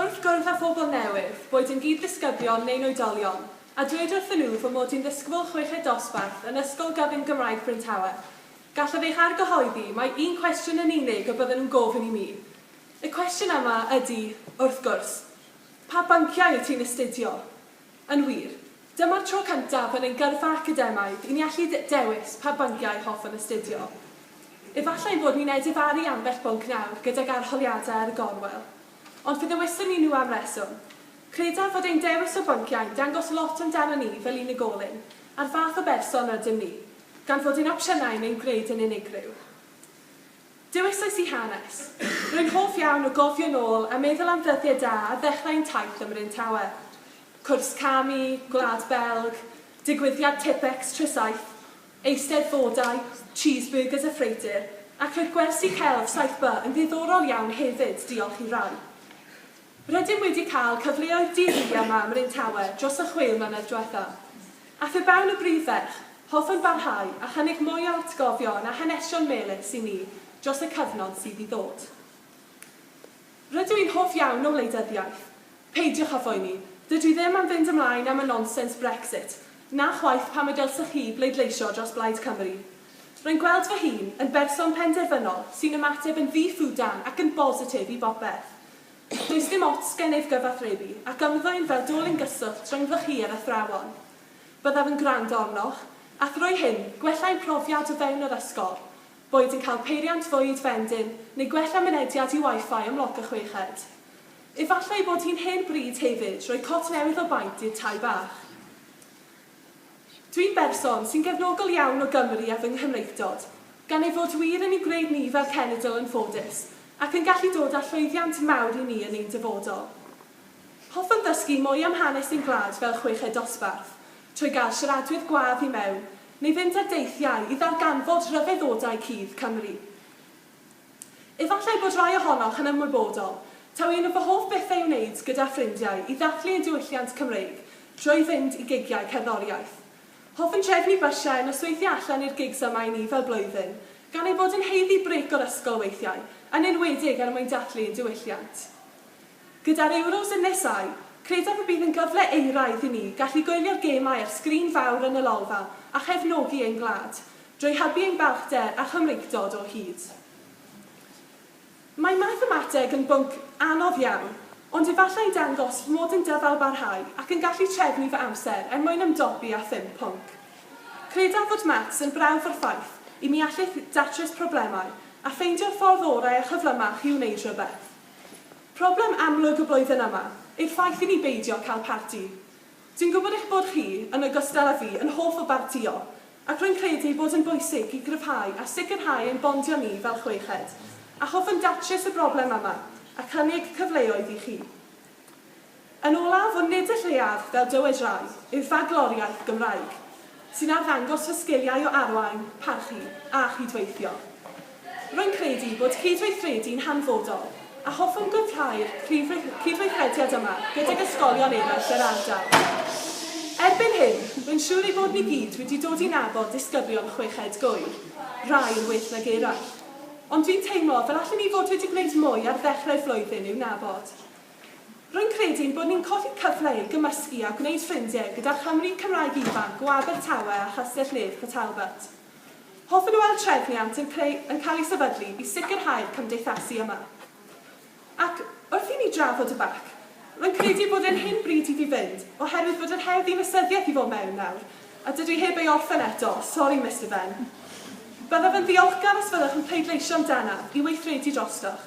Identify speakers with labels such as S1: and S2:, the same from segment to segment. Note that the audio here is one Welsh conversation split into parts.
S1: Wrth gwrdd â phobl newydd, boed yn gyd-ddisgyblion neu'n oedolion, a dweud wrthyn nhw fy mod i'n ddisgybl chweched dosbarth yn Ysgol Gyfun Gymraeg Bryn Tawe, Gallaf eich argyhoeddi mai un cwestiwn yn unig y bydden nhw'n gofyn i mi. Y cwestiwn yma ydy, wrth gwrs, 'Pa bynciau wyt ti'n astudio? Yn wir, dyma'r tro cyntaf yn ein gyrfa academaidd i ni allu dewis pa bynciau hoffwn astudio. Efallai ein bod ni'n edifaru ambell bwnc nawr gydag arholiadau ar y gorwel. Ond fe ddewiswn ni nhw am reswm. Credaf fod ein dewis o bynciau'n dangos lot amdanon ni fel unigolyn, a'r fath o berson rydym ni. Gan fod ein opsiynau neu'n gwneud yn unigryw. Dewisais i hanes. Rwy'n hoff iawn o gofio'n ôl a meddwl am ddyddiau da a ddechrau ein taith ym Mryn Tawe. Cwrs camu, Gwlad Belg, digwyddiad Tippex tro saith, Eisteddfodau, cheeseburgers a ffreutur, ac roedd gwersi celf 7 by yn ddiddorol iawn hefyd, diolch i rai. Rydym wedi cael cyfleoedd di-ri â Mam Rhun Tawe dros y chwe mlynedd diwetha'. Ath e fewn y brif ferch, hoffwn barhau a chynnig mwy o atgofion a hanesion melys i ni dros y cyfnod sydd i ddod. Rydw i'n hoff iawn o wleidyddiaeth. Peidiwch â phoeni, dydw i ddim am fynd ymlaen am y nonsens Brexit, na chwaith pam y dylsech chi bleidleisio dros Blaid Cymru. Rwy'n gweld fy hun yn berson penderfynol sy'n ymateb yn ddi-ffwdan ac yn bositif i bopeth. Does dim ots gennyf gyfathrebu ac ymddwyn fel dolyn gyswllt rhyngddoch chi a'r athrawon. Byddaf yn gwrando arnoch, a thrwy hyn, gwella ein profiad o fewn yr ysgol, boed yn cael peiriant fwyd vending neu gwella mynediad i Wi-Fi ym Mloc y Chweched. Efallai bod hi'n hen bryd hefyd roi cot newydd o baent i'r tai bach. Dwi'n berson sy'n gefnogol iawn o Gymru a fy Nghymreictod, gan ei fod wir yn ei gwneud ni fel cenedl yn ffodus, ac yn gallu dod â llwyddiant mawr i ni yn ein dyfodol. Hoffwn ddysgu mwy am hanes ein gwlad fel chweched dosbarth, trwy gael siaradwyr gwadd i mewn, neu fynd ar deithiau i ddarganfod rhyfeddodau cudd Cymru. Efallai bod rhai ohonoch yn ymwybodol taw un o fy hoff bethau i'w wneud gyda ffrindiau i ddathlu ein diwylliant Cymreig drwy fynd i gigiau cerddoriaeth. Hoffwn drefnu bysiau a nosweithiau allan i'r gigs yma i ni fel blwyddyn, gan ein bod yn haeddu brêc o'r ysgol weithiau, yn enwedig er mwyn dathlu ein diwylliant. Gyda'r Euros yn nesáu, credaf y bydd yn gyfle euraidd i ni gallu gwylio'r gemau ar sgrin fawr yn y Lolfa a chefnogi ein gwlad. Drwy hybu ein balchder a Chymreictod o hyd. Mae mathemateg yn bwnc anodd iawn, ond efallai'n dangos fy mod yn dyfalbarhau ac yn gallu trefnu fy amser er mwyn ymdopi â phum pwnc. Credaf fod maths yn brawf o'r ffaith i mi allith ddatrys problemau a ffeindio'r ffordd orau a chyflymach i wneud rhywbeth. Problem amlwg y flwyddyn yma yw'r ffaith i mi beidio cael parti. Dwi'n gwybod eich bod chi, yn ogystal â fi, yn hoff o bartïo, ac rwy'n credu ei bod yn bwysig i gryfhau a sicrhau ein bondio ni fel chweched, a hoffwn datrys y broblem yma a chynnig cyfleoedd i chi. Yn olaf, ond nid y lleiaf, fel dywed rai, yw bagloriaeth Gymraeg. sy'n arddangos fy sgiliau o arwain, parchu a chydweithio. Rwy'n credu bod cydweithredu'n hanfodol a hoffwn gwblhau'r prif cydweithrediad yma gydag ysgolion eraill yr ardal. Erbyn hyn, rwy'n siŵr ei bod ni gyd wedi dod i nabod disgyblion chweched gŵyr, rai yn well nag eraill. Ond dwi'n teimlo fel allen ni fod wedi gwneud mwy ar ddechrau'r flwyddyn i'w nabod. Rwy'n credu ein bod ni'n colli cyfle i gymysgu a gwneud ffrindiau gyda Chymry Cymraeg ifanc o Abertawe a Chastell-nedd Port Talbot. Hoffwn weld trefniant yn creu yn cael ei sefydlu i sicrhau'r cymdeithasu yma. Ac, wrth i ni drafod y bac, rwy'n credu ei bod e'n hen bryd iddi fynd, oherwydd bod yr her ddinasyddiaeth i fod mewn nawr, a dydw i heb ei orffen eto, sori Mister Benn. Byddaf yn ddiolchgar os fyddwch yn pleidleisio amdanaf i weithredu drostoch.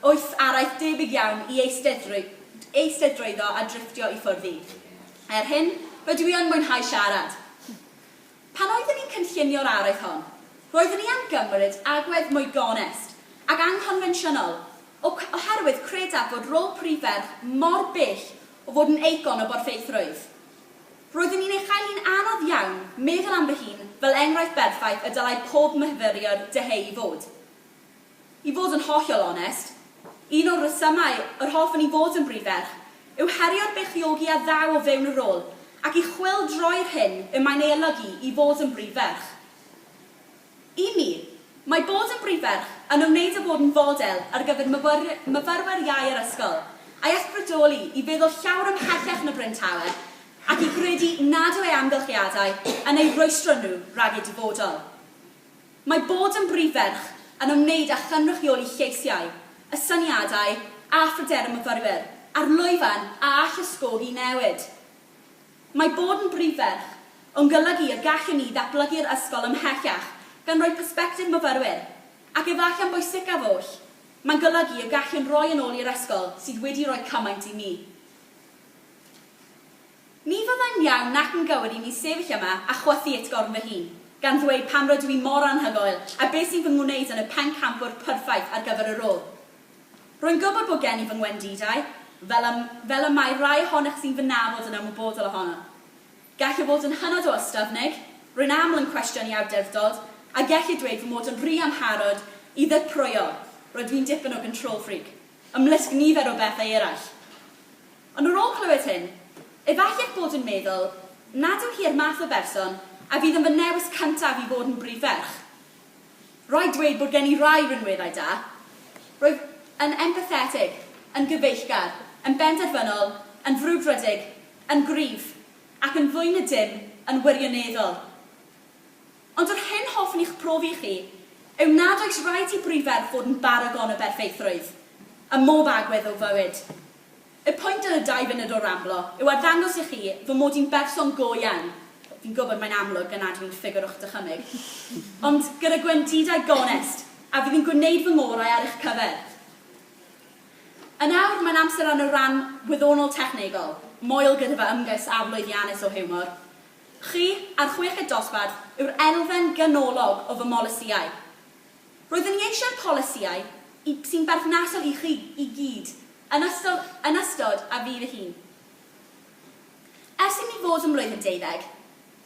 S2: Oes araith debyg iawn i eisteddrwyddo a drifftio i ffwrdd i? Er hyn, rydw i yn mwynhau siarad. Pan oeddwn i'n cynllunio'r araith hon, roeddwn i am gymryd agwedd mwy gonest ac anghonfensiynol oherwydd credaf fod rôl prif ferch mor bell o fod yn eicon o borthaethrwydd. Roeddwn i'n ei chael hi'n anodd iawn meddwl am fy hun fel enghraifft berffaith y dylai pob myfyriwr dyheu i fod. I fod yn hollol onest, un o'r rhesymau yr hoffwn i fod yn brif ferch yw herio'r beichiogi a ddaw o fewn y rôl ac i chwyldroi'r hyn y mae'n ei olygu i fod yn brif ferch. I mi, mae bod yn brif ferch yn ymwneud â bod yn fodel ar gyfer myfyrwyr iau yr ysgol, a'i ysbrydoli i feddwl llawer ymhellach na Bryn Tawe ac i gredu nad yw ei amgylchiadau yn eu rhwystro nhw rhag eu dyfodol. Mae bod yn brif ferch yn ymwneud â chynrychioli lleisiau, y syniadau a phryder y myfyrwyr, a'r lwyfan a all ysgogi newid. Mae bod yn brif ferch yn golygu y gallwn ni ddatblygu'r ysgol ymhellach gan roi persbectif myfyrwyr, ac efallai yn bwysicaf oll, mae'n golygu y gallwn roi yn ôl i'r ysgol sydd wedi rhoi cymaint i ni. Ni fyddai'n iawn nac yn gywir i mi sefyll yma a chwythu utgorn fy hun, gan ddweud pam rydw i mor anhygoel a beth sy'n fy ngwneud yn y pencampwr perffaith ar gyfer y rôl. Rwy'n gwybod bod gen i fy ngwendidau, fel y, fel y mae rhai ohonoch sy'n fy nabod yn ymwybodol ohono. Gallai fod yn hynod o ystyfnig, rwy'n aml yn cwestiynu awdurdod, a gellir dweud fy mod yn rhy amharod i ddirprwyo, rydw i'n dipyn o 'control freak', ymysg nifer o bethau eraill. Ond ar ôl clywed hyn, efallai eich bod yn meddwl nad yw hi'r math o berson a fydd yn fy newis cyntaf i fod yn brif ferch. Rhaid dweud bod gen i rai rhinweddau da. Rwyf yn empathetig, yn gyfeillgar, yn benderfynol, yn frwdfrydig, yn gryf, ac yn fwy na dim, yn wirioneddol. Ond yr hyn hoffwn i'ch profi i chi yw nad oes rhaid i brif ferch fod yn baragon o berffeithrwydd, ym mhob agwedd o fywyd. Y pwynt yn y dau funud o ramblo yw arddangos i chi fy mod i'n berson go iawn, fi'n gwybod mae'n amlwg gan nad fi'n ffigwr o'ch dychymyg, ond gyda gwendidau gonest, a fydd yn gwneud fy ngorau ar eich cyfer. Yn awr, mae'n amser am y rhan wyddonol technegol, moel gyda fy ymgais aflwyddiannus o hiwmor. Chi, a'r chweched dosbarth, yw'r elfen ganolog o fy mholisïau. Roeddwn i eisiau'r polisïau i sy'n berthnasol i chi i gyd yn ystod yn ystod a fydd y hun. Ers i mi fod ym mlwyddyn deuddeg,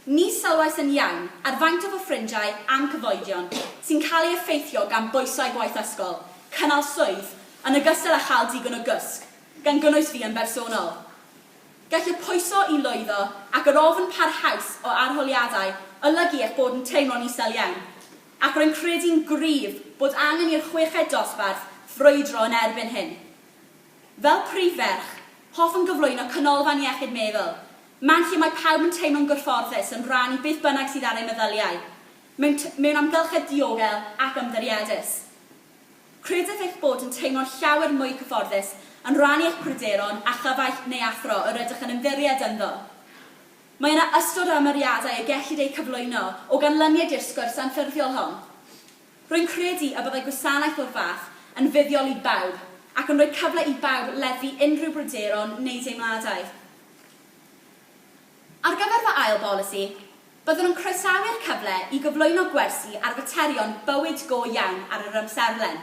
S2: ni sylwais yn iawn ar faint o fy ffrindiau a'm cyfoedion sy'n cael ei effeithio gan bwysau gwaith ysgol, cynnal swydd, yn ogystal â chael digon o gysg, gan gynnwys fi yn bersonol. Gall y pwyso i lwyddo ac yr ofn parhaus o arholiadau olygu eich bod yn teimlo'n isel iawn. ac rwy'n credu'n gryf bod angen i'r chweched dosbarth frwydro yn erbyn hyn. Fel prif ferch, hoffwn gyflwyno Canolfan Iechyd Meddwl, man lle mae pawb yn teimlo'n gyfforddus yn rhan i beth bynnag sydd ar eu meddyliau, mewn mewn amgylchedd diogel ac ymddirieddus. Credaf eich bod yn teimlo'n llawer mwy cyfforddus yn rhannu eich pryderon â chyfaill neu athro yr ydych yn ymddiried ynddo. Mae yna ystod o ymyriadau y gellid eu cyflwyno o ganlyniad i'r sgwrs anffurfiol hon. Rwy'n credu y byddai gwasanaeth o'r fath yn fuddiol i bawb ac yn rhoi cyfle i bawb leddfu unrhyw bryderon neu deimladau. Ar gyfer fy ail bolisi, byddwn yn croesawu'r cyfle i gyflwyno gwersi ar faterion bywyd go iawn ar yr amserlen.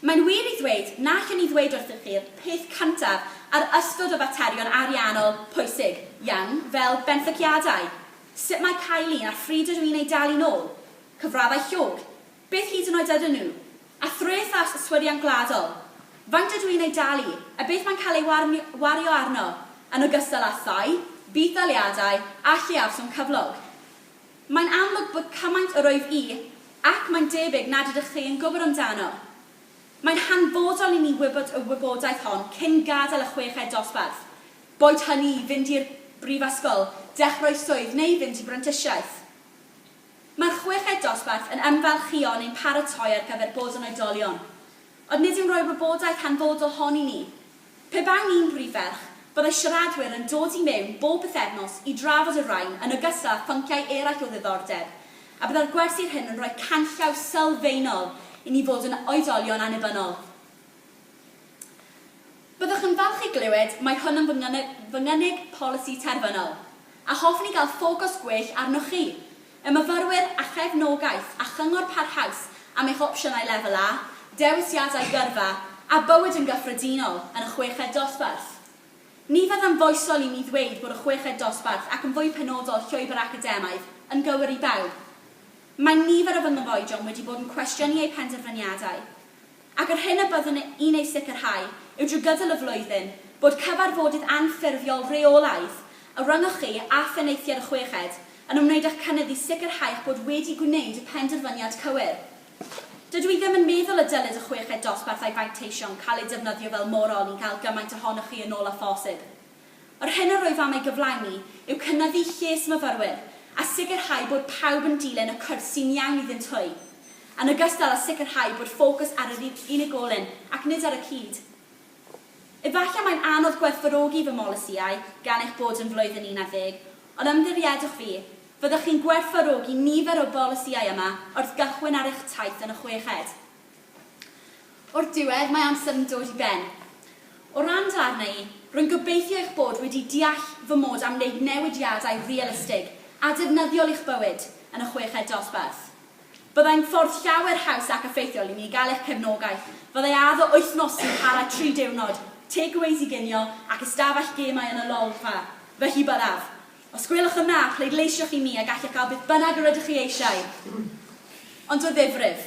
S2: Mae'n wir i ddweud na allen i ddweud wrthych chi'r peth cyntaf ar ystod o faterion ariannol pwysig iawn fel benthyciadau, sut mae cael un a phryd ydw i'n eu dalu nôl, cyfraddau llog, beth hyd yn oed ydyn nhw, a threth a yswiriant gwladol, faint ydw i'n eu dalu a beth mae'n cael ei wario arno, yn ogystal â thai, budd-daliadau a lleafswm cyflog. Mae'n amlwg bod cymaint o rwyf i, ac mae'n debyg nad ydych chi, yn gwybod amdano. Mae'n hanfodol i ni wybod y wybodaeth hon cyn gadael y chweched dosbarth, boed hynny i fynd i'r brifysgol, dechrau swydd neu fynd i brentisiaeth. Mae'r chweched dosbarth yn ymfalchïo neu'n paratoi ar gyfer bod yn oedolion. Ond nid yw'n rhoi'r wybodaeth hanfodol hon i ni. Pe bawn i'n brif ferch, byddai siaradwyr yn dod i mewn bob pythefnos i drafod y rhain yn ogystal â phynciau eraill o ddiddordeb, a byddai'r gwersi'r hyn yn rhoi canllaw sylfaenol i ni fod yn oedolion annibynnol. Byddwch yn falch i glywed mai hwn yn fy ngynnig, fy ngynnig polisi terfynol, a hoffwn i gael ffocws gwell arnoch chi, y myfyrwyr, a chefnogaeth a chyngor parhaus am eich opsiynau Lefel A, dewisiadau gyrfa, a bywyd yn gyffredinol yn y chweched dosbarth. Ni fyddai'n foesol i mi ddweud bod y chweched dosbarth, ac yn fwy penodol llwybr academaidd, yn gywir i bawb. Mae nifer o fy nghyfoedion wedi bod yn cwestiynu eu penderfyniadau. Ac yr hyn y byddwn i'n ei sicrhau yw drwy gydol y flwyddyn bod cyfarfodydd anffurfiol rheolaidd, y rhyngwch chi a Phenaethiaid y Chweched, yn ymwneud â'ch cynnydd i sicrhau eich bod wedi gwneud y penderfyniad cywir. Dydw i ddim yn meddwl y dylid y chweched dosbarth a'i fanteision cael eu defnyddio fel morol i gael gymaint ohonoch chi yn ôl â phosib. Yr hyn a rwyf am ei gyflawni yw cynyddu lles myfyrwyr a sicrhau bod pawb yn dilyn y cwrs sy'n iawn iddynt hwy, yn ogystal â sicrhau bod ffocws ar yr unigolyn ac nid ar y cyd. Efallai mae'n anodd gwerthfawrogi fy mholisïau gan eich bod yn flwyddyn un ar ddeg, ond ymddirieddwch fi, fyddwch chi'n gwerthfawrogi nifer o'r bolisïau yma wrth gychwyn ar eich taith yn y chweched. O'r diwedd, mae amser yn dod i ben. O ran dy arna i, rwy'n gobeithio eich bod wedi deall fy mod am wneud newidiadau realistig a defnyddiol i'ch bywyd yn y chweched dosbarth. Byddai'n ffordd llawer haws ac effeithiol i mi gael eich cefnogaeth fyddai addo wythnos sy'n para tri diwrnod, takeaways i ginio ac ystafell gemau yn y Lolfa, felly byddaf. Os gwelwch yn dda, pleidleisiwch i mi a gallech gael beth bynnag yr ydych chi eisiau! Ond o ddifrif.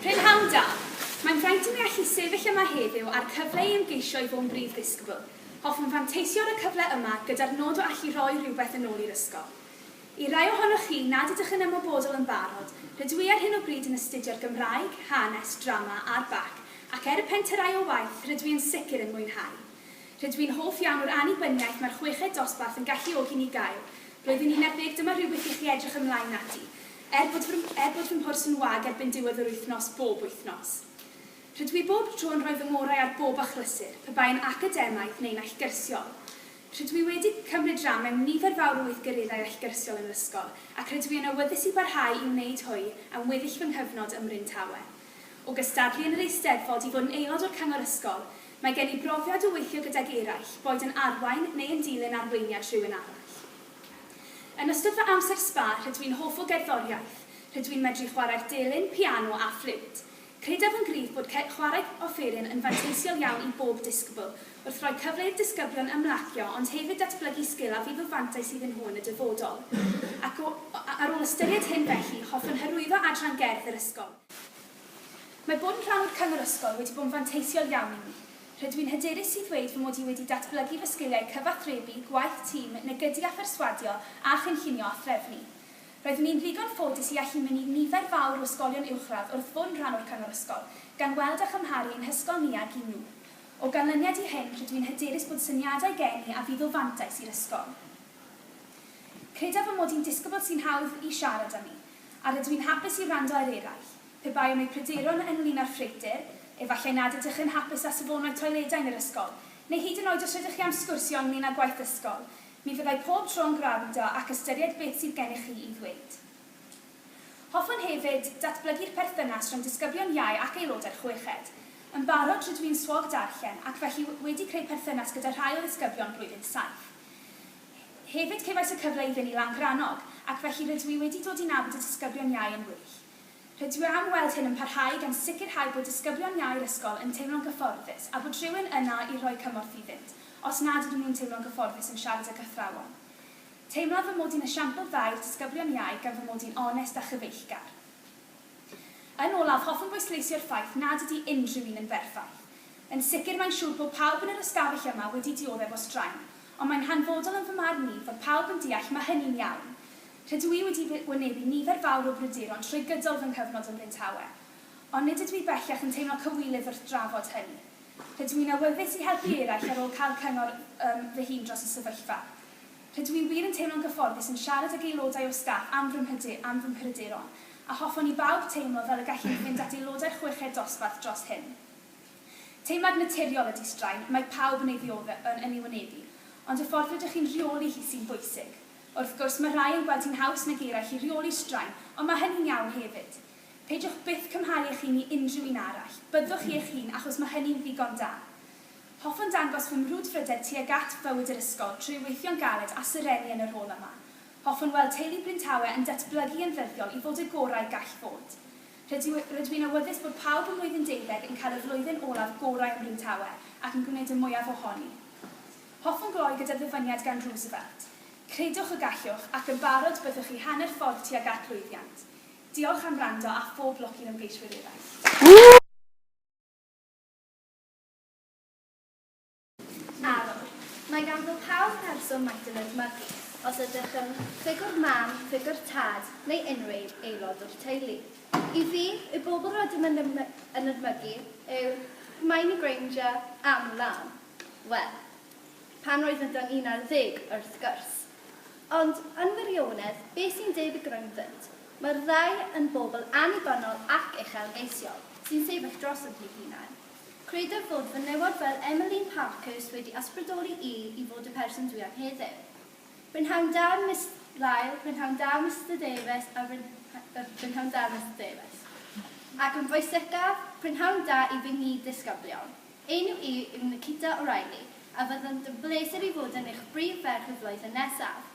S3: Prynhawn da! Mae'n fraint i mi allu sefyll yma heddiw a'r cyfle i ymgeisio i fod yn brif ddisgybl. Hoffwn fanteisio ar y cyfle yma gyda'r nod o allu rhoi rhywbeth yn ôl i'r ysgol. I rai ohonoch chi nad ydych yn ymwybodol yn barod, rydw i ar hyn o bryd yn astudio'r Gymraeg, Hanes, Drama a'r bac, ac er y penterai o waith, rydw i yn sicr yn mwynhau. Rydw i'n hoff iawn o'r annibyniaeth mae'r chweched dosbarth yn galluogi ni gael. Roedd yn unedig, dyma rhywbeth i chi edrych ymlaen ati. Er bod fy, er bod fy mhwrs yn wag erbyn diwedd yr wythnos bob wythnos. Rydw i bob tro yn rhoi fy ngorau ar bob achlysur, pe bai'n academaidd neu'n allgyrsiol. Rydw i wedi cymryd ran mewn nifer fawr o weithgareddau allgyrsiol yn yr ysgol, ac rydw i yn awyddus i barhau i wneud hwy am weddill fy nghyfnod ym Mryn Tawe. O gystadlu yn yr Eisteddfod i fod yn aelod o'r Cyngor Ysgol, mae gen i brofiad o weithio gydag eraill, boed yn arwain neu yn dilyn arweiniad rhywun arall. Yn ystod fy amser sba, rydw i'n hoff o gerddoriaeth. Rydw i'n medru chwarae'r delyn, piano a ffliwt. Credaf yn gryf bod chwarae offeryn yn fanteisiol iawn i bob disgybl, wrth roi cyfle i'r disgyblion ymlacio ond hefyd datblygu sgil a fydd o fantais iddyn nhw yn y dyfodol. Ac o, ar ôl ystyried hyn felly, hoffwn hyrwyddo adran gerdd yr ysgol. Mae bod yn rhan o'r cyngor ysgol wedi bod yn fanteisiol iawn i mi. Rydw i'n hyderus i ddweud fy mod i wedi datblygu fy sgiliau cyfathrebu, gwaith tîm, negydu a pherswadio, a chynllunio a threfnu. Roeddwn i'n ddigon ffodus i allu mynnu nifer fawr o ysgolion uwchradd wrth fod yn rhan o'r Cyngor Ysgol, gan weld a chymharu ein hysgol ni ag un nhw. O ganlyniad i hyn, rydw i'n hyderus bod syniadau gen i a fydd o fantais i'r ysgol. Credaf fy mod i'n disgybl sy'n hawdd i siarad â mi, a rydw i'n hapus i wrando ar eraill. Pe bai am eu pryderon ynglŷn â'r ffreutur, efallai nad ydych yn hapus â safonau toiledau yn yr ysgol, neu hyd yn oed os rydych chi am sgwrsio ynglŷn â gwaith ysgol, mi fyddai pob tro yn gwrando ac ystyried beth sydd gennych chi i ddweud. Hoffwn hefyd datblygu'r perthynas rhwng disgyblion iau ac aelodau'r chweched. Yn barod rydw i'n swog darllen ac felly wedi creu perthynas gyda rhai o ddisgyblion blwyddyn saith. Hefyd cefais y cyfle i fynd i Langrannog ac felly rydw i wedi dod i nabod y disgyblion iau yn well. Rydw i am weld hyn yn parhau gan sicrhau bod disgyblion iau'r ysgol yn teimlo'n gyfforddus a bod rhywun yna i rhoi cymorth iddynt os nad ydyn nhw'n teimlo'n gyfforddus yn siarad ag athrawon. Teimlaf fy mod i'n esiampl dda i'r disgyblion iau gan fy mod i'n onest a chyfeillgar. Yn olaf, hoffwn bwysleisio'r ffaith nad ydy unrhyw un yn berffaith. Yn sicr mae'n siŵr bod pawb yn yr ystafell yma wedi dioddef o straen, ond mae'n hanfodol yn fy marn i fod pawb yn deall mae hynny'n iawn. Rydw i wedi wynebu nifer fawr o bryderon trwy gydol fy nghyfnod ym Mhryntawe, ond nid ydw i bellach yn teimlo cywilydd wrth drafod hynny. Rydw i'n awyddus i helpu eraill ar ôl cael cyngor ym fy hun dros y sefyllfa. Rydw i wir yn teimlo'n gyfforddus yn siarad ag aelodau o staff am fy mhryder, am fy mhryderon, a hoffwn i bawb teimlo fel y gallwn i fynd at aelodau'r chweched dosbarth dros hyn. Teimlad naturiol ydy straen, mae pawb yn ei ddiodde, yn yn ei wynebu, ond y ffordd rydych chi'n rheoli hi sy'n bwysig. Wrth gwrs, mae rhai yn gweld hi'n haws nag eraill i reoli straen, ond mae hynny'n iawn hefyd. Peidiwch byth cymharu eich hun i unrhyw un arall. Byddwch chi eich hun achos mae hynny'n ddigon da. Hoffwn dangos fy mrwdfrydedd tuag at bywyd yr ysgol trwy weithio'n galed a serennu yn y rôl yma. Hoffwn weld teulu Bryn Tawe yn datblygu yn ddyddiol i fod y gorau gall fod. Rydw, rydw i'n awyddus bod pawb ym mlwyddyn deuddeg yn cael y flwyddyn olaf gorau ym Mryn Tawe ac yn gwneud y mwyaf ohoni. Hoffwn gloi gyda ddyfyniad gan Roosevelt, Credwch y gallwch, ac yn barod byddwch chi hanner ffordd tuag at lwyddiant. Diolch am wrando a phob lwc i'r ymgeiswyr eraill.
S4: Arwr. Mae gan fo pawb person maint yn edmygu, os ydych yn ffigwr mam, ffigwr tad, neu unrhyw aelod o'r teulu. I fi, y bobl rydym yn edmygu yw Hermione Granger am law. Wel, pan oeddan ni'n ar ddeg, wrth gwrs. Ond, yn wirionedd, be' sy'n deud y groendynt? Mae'r ddau yn bobl annibynnol ac uchelgeisiol, sy'n sefyll drosodd eu hunain. Credaf fod fy newod fel Emmeline Parkhurst wedi ysbrydoli i i fod y person dwi am heddiw. Prynhawn da, Miss Lyle, prynhawn da, Mister Davies, a prynhawn da, Mister Davies. Ac yn bwysicaf, prynhawn da i fy nghyd-ddisgyblion. Enw i yw Nikita O'Reilly a fyddant yn bleser i fod yn eich brif ferch y flwyddyn nesaf.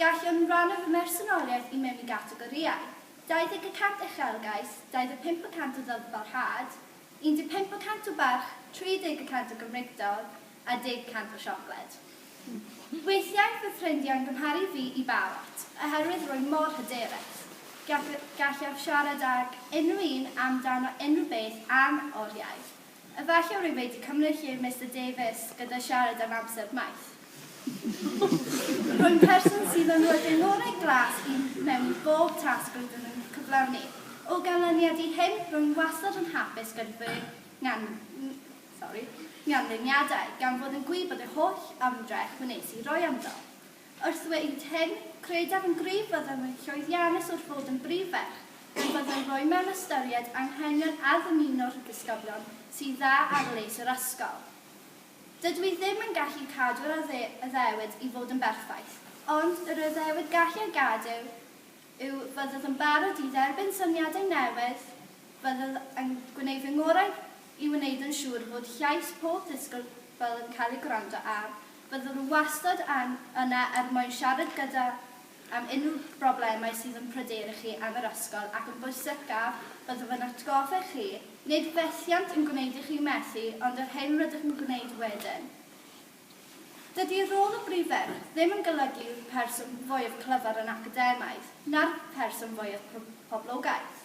S4: Gallwn rannu fy mhersonoliaeth i mewn i gategorïau, 20 y cant uchelgais, 25 y cant o ddyfalhad, 15 y cant o barch, 30 y cant o Gymreictod a 10 y cant o siocled. Weithiau bydd ffrindiau'n gymharu fi i barot oherwydd rwy mor hyderus. Gallaf siarad ag unrhyw un amdano unrhyw beth am oriau. Efallai rwyf wedi cymryd lle Mister Davies gyda siarad am amser maith. Rwy'n person sydd yn rhoi'r dengorau glas i mewn i bob tasg rydym yn cyflawni. O ganlyniad i hyn, rwy'n wastad yn hapus gyda fy nghanlyniadau, gan fod yn gwych bod yr holl ymdrech wnes i roi ynddo. Wrth ddweud hyn, credaf yn gryf fyddai'n rhoi llwyddiannus wrth fod yn brif ferch, gan fyddai'n rhoi mewn ystyried anghenion a ddymuno'r disgyblion sy'n dda ar les yr ysgol. Dydw i ddim yn gallu cadw'r addewid i fod yn berffaith, ond yr addewid gallai gadw yw byddwch yn barod i dderbyn syniadau newydd, byddwch yn gwneud fy ngorau i wneud yn siŵr fod llais pob disgybl yn cael ei gwrando ar, byddwn wastad yna er mwyn siarad gyda am unrhyw broblemau sydd yn pryderu chi am yr ysgol ac yn bwysicaf, byddaf yn atgoffa chi, nid fethiant yn gwneud i chi methu ond yr hyn rydych yn gwneud wedyn. Dydy rôl y brif ferch ddim yn golygu'r person fwyaf clyfar yn academaidd, na'r person fwyaf poblogaidd.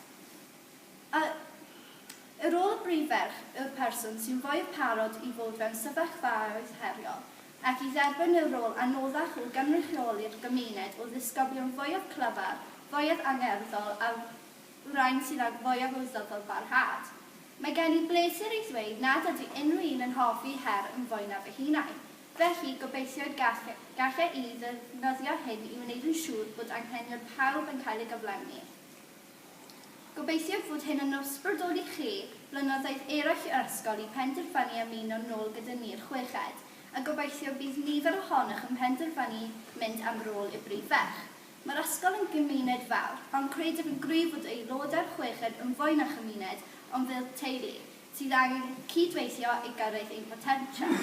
S4: A yw rôl y brif ferch yw'r person sy'n fwyaf parod i fod mewn sefyllfaoedd heriol ac i dderbyn y rôl anoddach o gynrychioli'r gymuned o ddisgyblion fwyaf clyfar, fwyaf angerddol a'r rhain sydd ag fwyaf o ddyfalbarhad? Mae gen i bleser i ddweud nad ydy unrhyw un yn hoffi her yn fwy na fy hunain, felly gobeithiaid gall gall e i ddefnyddio hyn i wneud yn siŵr bod anghenion pawb yn cael ei gyflenwi. Gobeithiaf fod hyn yn ysbrydoli chi blynyddoedd eraill yr ysgol i penderfynu ymuno'n nôl gyda ni'r chweched, a gobeithio bydd nifer ohonoch yn penderfynu mynd am rôl i'r brif ferch. Mae'r ysgol yn gymuned fawr, ond credaf yn gryf fod aelod a'r chweched yn fwy na chymuned, ond fel teulu, sydd angen cyd-weithio i gyrraedd ein potensial.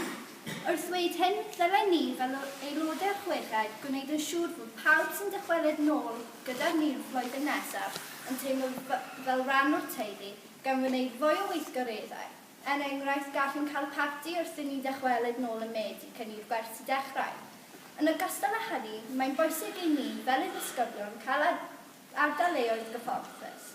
S4: Wrth ddweud hyn, dylai ni, fel aelodau'r chweched, gwneud yn siŵr bod pawb sy'n dychwelyd nôl gyda ni'r flwyddyn nesaf yn teimlo fel rhan o'r teulu, gan wneud fwy o weithgareddau. Er enghraifft, gallwn cael parti wrth i ni ddychwelyd nôl ym Medi cyn i'r gwersi dechrau. Yn ogystal â hynny, mae'n bwysig i ni fel addysgogion cael ardal leoedd gyfforddus.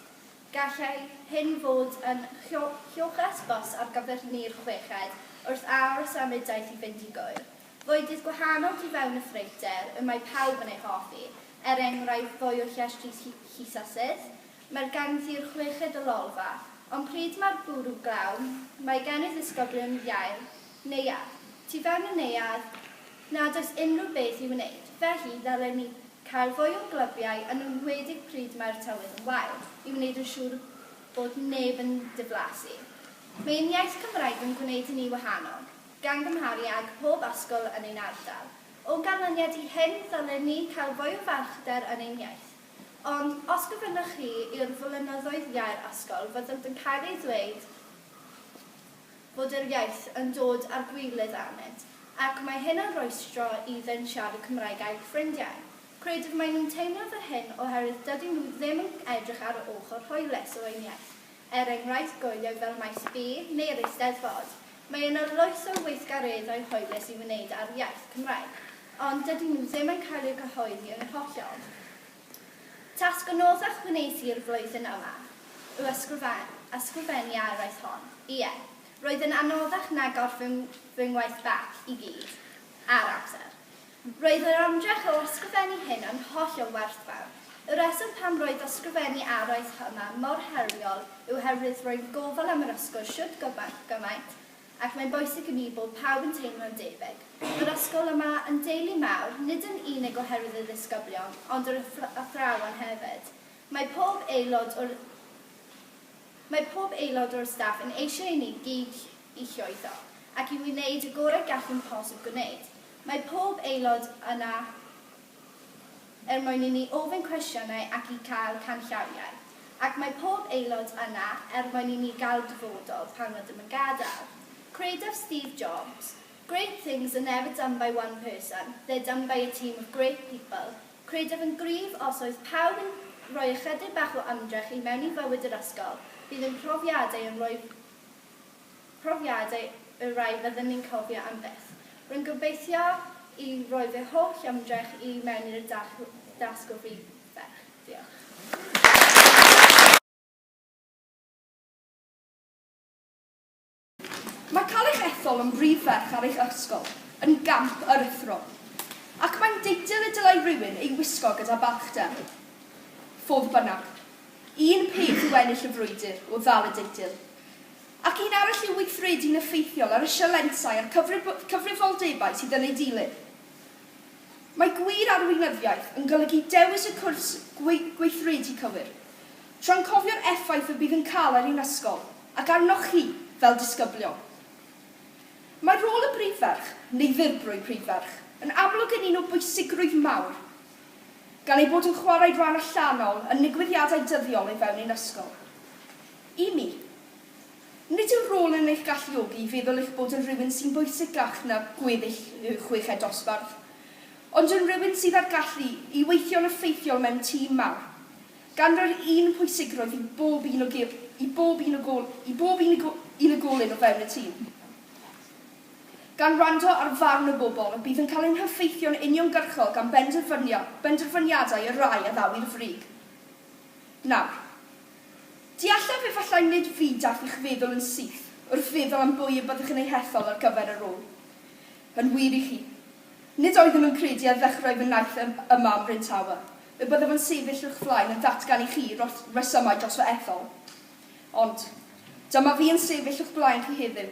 S4: Gallai hyn fod yn lloches bws ar gyfer ni'r chweched wrth aros am y daith i fynd i Gŵyr. Fwydydd gwahanol tu fewn y ffreuter y mae pawb yn ei hoffi, er enghraifft fwy o llestris llusasydd, Mae'r gangddu'r chweched o lolfa. Ond pryd mae'r bwrw glaw, mae gen ei ddisgyblion iau, neuadd, tu fewn y neuadd, nad oes unrhyw beth i'w wneud, felly ddylen ni cael fwy o glybiau yn enwedig pryd mae'r tywydd yn wael, i wneud yn siŵr bod neb yn diflasu. Mae ein iaith Cymraeg yn gwneud i ni wahanol, gan gymharu ag pob ysgol yn ein ardal. O ganlyniad i hyn, ddylen ni cael fwy o farchder yn ein iaith. Ond os gofynnoch chi i'r flynyddoedd iau'r ysgol, fyddant yn cael ei ddweud fod yr iaith yn dod â'r gwilydd arnynt, ac mae hyn yn rhwystro iddynt siarad Cymraeg a'u ffrindiau. Credaf mai nhw'n teimlo fel hyn oherwydd dydyn nhw ddim yn edrych ar yr ochr hoelus o ein iaith. er enghraifft goeloedd fel Maes B neu yr Eisteddfod. Mae yna loes o weithgareddau hwylus i'w wneud â'r iaith Cymraeg, ond dydy nhw ddim yn cael eu cyhoeddi yn hollol. Tasg anoddach wnes i'r flwyddyn yma yw ysgrifennu a araith hon. Ie, roedd yn anoddach na gorffen fy ngwaith bac i gyd, ar amser. Roedd yr ymdrech o ysgrifennu hyn yn holl o werthfawr. Y rheswm pam roedd ysgrifennu araith yma mor heriol yw oherwydd rwy'n gofal am yr ysgol shwt gymaint, gymaint, ac mae'n bwysig i mi bod pawb yn teimlo'n debyg. Mae'r ysgol yma yn deulu mawr, nid yn unig oherwydd y ddisgyblion, ond yr athrawon hefyd. Mae pob aelod o'r Mae pob aelod o'r staff yn eisiau i ni gyd i llwyddo, ac i wneud y gorau gallwn posib gwneud. Mae pob aelod yna er mwyn i ni ofyn cwestiynau ac i gael canllawiau. Ac mae pob aelod yna er mwyn i ni gael dyfodol pan rydym yn gadael. Credaf Steve Jobs, Great things are never done by one person, they're done by a team of great people. Credaf yn gryf os oedd pawb yn rhoi ychydig bach o ymdrech i mewn i fywyd yr ysgol, bydd ein profiadau yn rhoi profiadau y rhai fydden ni'n cofio am byth. Rwy'n gobeithio i roi fy holl ymdrech i mewn i'r dasg o Brif Ferch. Diolch.
S5: Mae cael eich ethol yn Brif Ferch ar eich ysgol yn gamp aruthrol, ac mae'n deitl y dylai rhywun ei wisgo gyda balchder. Fodd bynnag, un peth yw ennill y frwydr o ddal y deitl, Ac un arall yw weithredu'n effeithiol ar y sialensau a'r cyfrifoldebau sydd yn eu dilyn. Mae gwir arweinyddiaeth yn golygu dewis y cwrs gweithredu cywir, tra'n cofio'r effaith y bydd yn cael ar ein ysgol ac arnoch chi fel disgyblion. Mae rôl y Brif Ferch, neu Ddirprwy Prif Ferch, yn amlwg yn un o bwysigrwydd mawr, gan ei bod yn chwarae rhan allanol yn nigwyddiadau dyddiol o fewn ein ysgol. I mi, nid yw'r rôl yn eich galluogi i feddwl eich bod yn rhywun sy'n bwysicach na gweddill y chweched dosbarth, ond yn rhywun sydd â'r gallu i weithio'n effeithiol mewn tîm mawr, gan roi'r un pwysigrwydd i bob un o i bob un o gol i bob un o unigolyn o fewn y tîm, gan wrando ar farn y bobl y bydd yn cael ein heffeithio'n uniongyrchol gan benderfyniadau y rhai a ddaw'r frig nawr. Deallaf efallai nid fydaf i'ch feddwl yn syth wrth feddwl am bwy y byddwch yn eu hethol ar gyfer y rôl. Yn wir i chi. Nid oeddwn yn credu ar ddechrau fy naill ym yma ym Mhryn Tawe, y byddaf yn sefyll o'ch flaen yn datgan i chi ros- resymau dros fy ethol. Ond, dyma fi yn sefyll o'ch blaen chi heddiw.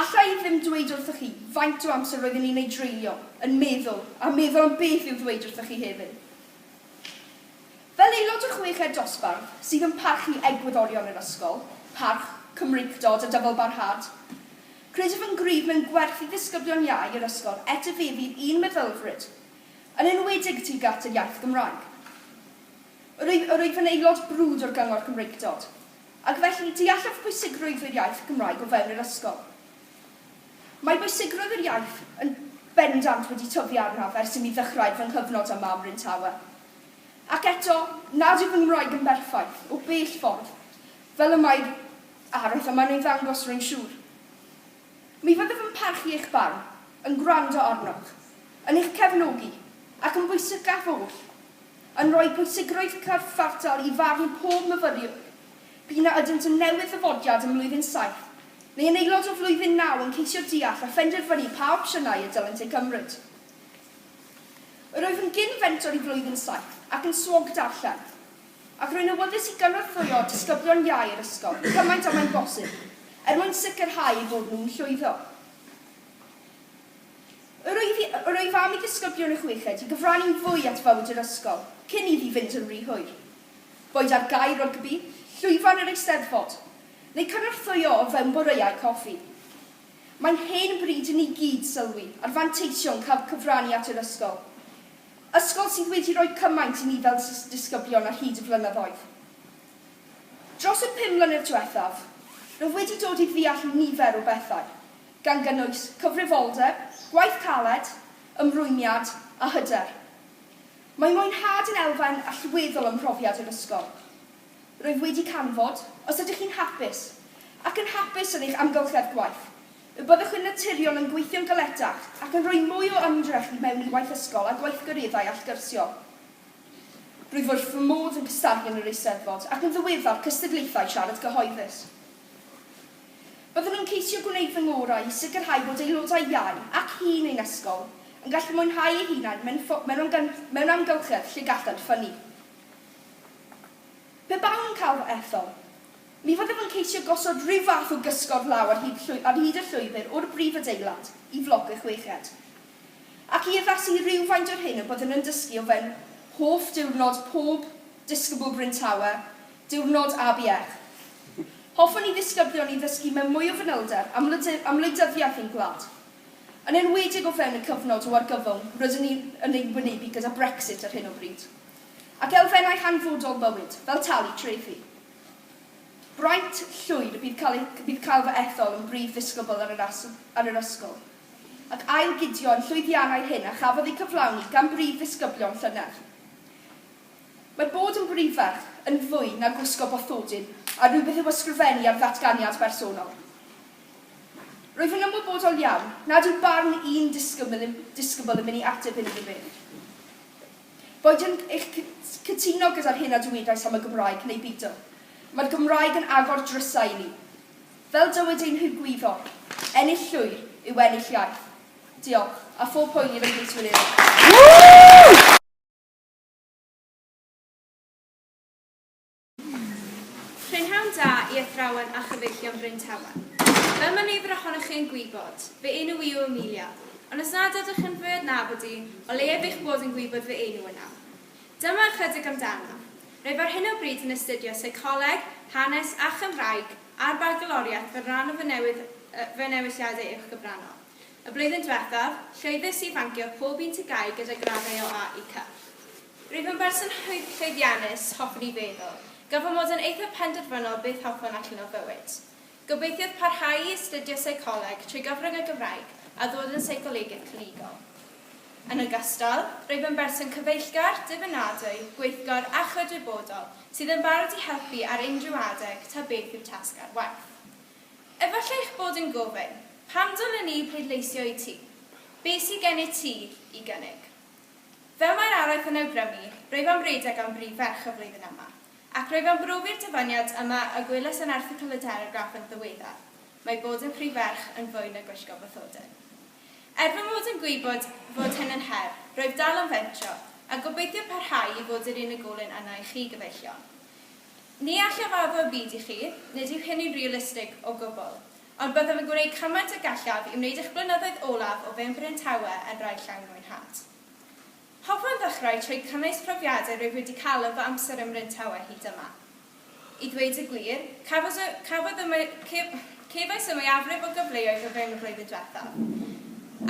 S5: Alla i ddim dweud wrthych chi faint o amser roeddwn i'n ei dreulio yn meddwl a meddwl am beth i'w ddweud wrthych chi heddiw. Fel aelod o chweched dosbarth sydd yn parchu egwyddorion yr ysgol, parch, Cymreictod a dyfalbarhad, credaf yn gryf mewn gwerth i ddisgyblion iau yr ysgol etifeddu un meddylfryd, yn enwedig tuag at yr iaith Gymraeg. Yr wyf, yr wyf yn aelod brwd o'r Gyngor Cymreictod, ac felly deallaf pwysigrwydd yr iaith Gymraeg o fewn yr ysgol. Mae bwysigrwydd yr iaith yn bendant wedi tyfu arnaf ers imi ddechrau fy nghyfnod yma ym Mryn Tawe. Ac eto, nad yw fy Nghymraeg yn berffaith, o bell ffordd, fel y mae araith, a mae'n ei ddangos, rwy'n siŵr. Mi fyddaf yn parchu eich barn, yn gwrando arnoch, yn eich cefnogi, ac yn bwysicaf oll, yn rhoi pwysigrwydd cyfartal i farn pob myfyriwr, p'un a ydynt yn newydd-ddyfodiad ym Mlwyddyn Saith, neu yn aelod o Flwyddyn Naw yn ceisio deall a phenderfynu pa opsiynau y dylent eu cymryd. Yr wyf yn gyn-fentor i Flwyddyn Saith ac yn swog darllen, ac rwy'n awyddus i gynorthwyo disgyblion iau yr ysgol cymaint â mae'n bosib, er mwyn sicrhau eu bod nhw'n llwyddo. Yr wyf i, yr wyf am i ddisgyblion y chweched i gyfrannu'n fwy at fywyd yr ysgol cyn iddi fynd yn rhy hwyr. Boed ar gae rygbi, llwyfan yr Eisteddfod, neu cynorthwyo o fewn boreau coffi. Mae'n hen bryd i ni gyd sylwi ar fanteision cael cyfrannu at yr ysgol. Ysgol sydd wedi rhoi cymaint i ni fel disgyblion ar hyd y blynyddoedd. Dros y pum mlynedd diwethaf, rwyf wedi dod i ddeall nifer o bethau, gan gynnwys cyfrifoldeb, gwaith caled, ymrwymiad a hyder. Mae mwynhad yn elfen allweddol ym mhrofiad yr ysgol. Rwyf wedi canfod, os ydych chi'n hapus, ac yn hapus yn eich amgylchedd gwaith, y byddwch yn naturiol yn gweithio'n galetach ac yn rhoi mwy o ymdrech i mewn i waith ysgol a gweithgareddau allgyrsiol. Rwyf wrth fy modd yn cystadlu yn yr Eisteddfod ac yn ddiweddar cystadlaethau siarad cyhoeddus. Byddwn yn ceisio gwneud fy ngorau i sicrhau bod aelodau iau ac hŷn ein ysgol yn gallu mwynhau eu hunain mewn amgylchedd lle gallant ffynnu. Pe bawn yn cael fy ethol, mi fyddem yn ceisio gosod rhyw fath o gysgod law ar hyd llwy- ar hyd y llwybr o'r brif adeilad i floc y chweched, ac i addasu rywfaint o'r hyn y byddwn yn dysgu o fe'n hoff diwrnod pob disgybl Bryn Tawe, diwrnod ABF. Hoffwn i ddisgyblion ni ddysgu mewn mwy o fanylder am wlade- am wleidyddiaeth ein gwlad, yn enwedig o fewn y cyfnod o argyfwng rydyn ni yn ei wynebu gyda Brexit ar hyn o bryd. ac elfennau hanfodol bywyd, fel talu trethi. Braint llwyd y bydd cael, bydd cael fy ethol yn brif ddisgybl ar yr, ar yr ysgol, ac ail-gydio yn llwyddiannau hyn a chafodd eu cyflawni gan brif ddisgyblion llynedd. Mae bod yn brifferch yn fwy na gwisgo bathodyn a rhywbeth i'w ysgrifennu ar ddatganiad bersonol. Rwyf yn ymwybodol iawn nad yw barn un disgybl, disgybl yn mynd i ateb hyn iddo fe. Boedwn i'ch cytuno gyda'r hyn a dywedais am y Gymraeg neu beidio. Mae'r Gymraeg yn agor drysau i ni. Fel dywed ein hygwyddor, ennill llwyr yw ennill iaith. Diolch, a phob hwyl i fy nghydwin eraill.
S3: Prynhawn da i athrawon a chyfeillion Bryn Tawe. Fel mae nifer ohonoch chi yn gwybod, fy enw i yw Amelia, ond os nad ydych yn fy adnabod i, o leiaf eich bod yn gwybod fy enw yna. Dyma ychydig amdana. Rwyf ar hyn o bryd yn astudio Seicoleg, Hanes a Chymraeg a'r Bagaloriaeth fel rhan o fy newydd, yy, fy newidiadau uwchgyfrannol. Y blwyddyn diwethaf, llwyddais i fancio'r pob un tŷ gae gyda graddau o A i C. Rwyf yn berson llwyddiannus, hoffwn i feddwl. Gan fy mod yn eithaf penderfynol beth hoffwn allan o fywyd. Gobeithiaf parhau i astudio seicoleg trwy gyfrwng y Gymraeg a ddod yn seicolegydd clinigol. Yn ogystal, rwyf yn berson cyfeillgar, dibynadwy, gweithgor a chydwybodol sydd yn barod i helpu ar unrhyw adeg ta beth yw tasg ar waith. Efallai eich bod yn gofyn, 'Pam dylen ni bleidleisio i ti? Be sydd gennyt ti i gynnig? Fel mae'r araith yn awgrymu, rwyf am redeg am brif ferch y flwyddyn yma. Ac rwyf am brofi'r dyfaniad yma y gwelais yn erthygl y Telegraph yn ddiweddar, mae bod yn prif ferch yn fwy na gwisgo bathodyn. Er fy mod yn gwybod fod hyn yn her, rwyf dal am fentro, a gobeithio parhau i fod yr unigolyn yna i chi, gyfeillion. Ni allaf addo y byd i chi, nid yw hynny'n realistig o gwbl. Ond byddaf yn gwneud cymaint a gallaf i wneud eich blynyddoedd olaf o fewn Bryn Tawe yn rai llai mwynhad. Hoffwn ddechrau trwy cynnwys profiadau rwyf wedi cael yn fy amser ym Mryn Tawe hyd yma. I ddweud y gwir, cafwys y, cafwyd y, cefais y mwyafrif o gyfleoedd o fewn y flwyddyn diwethaf.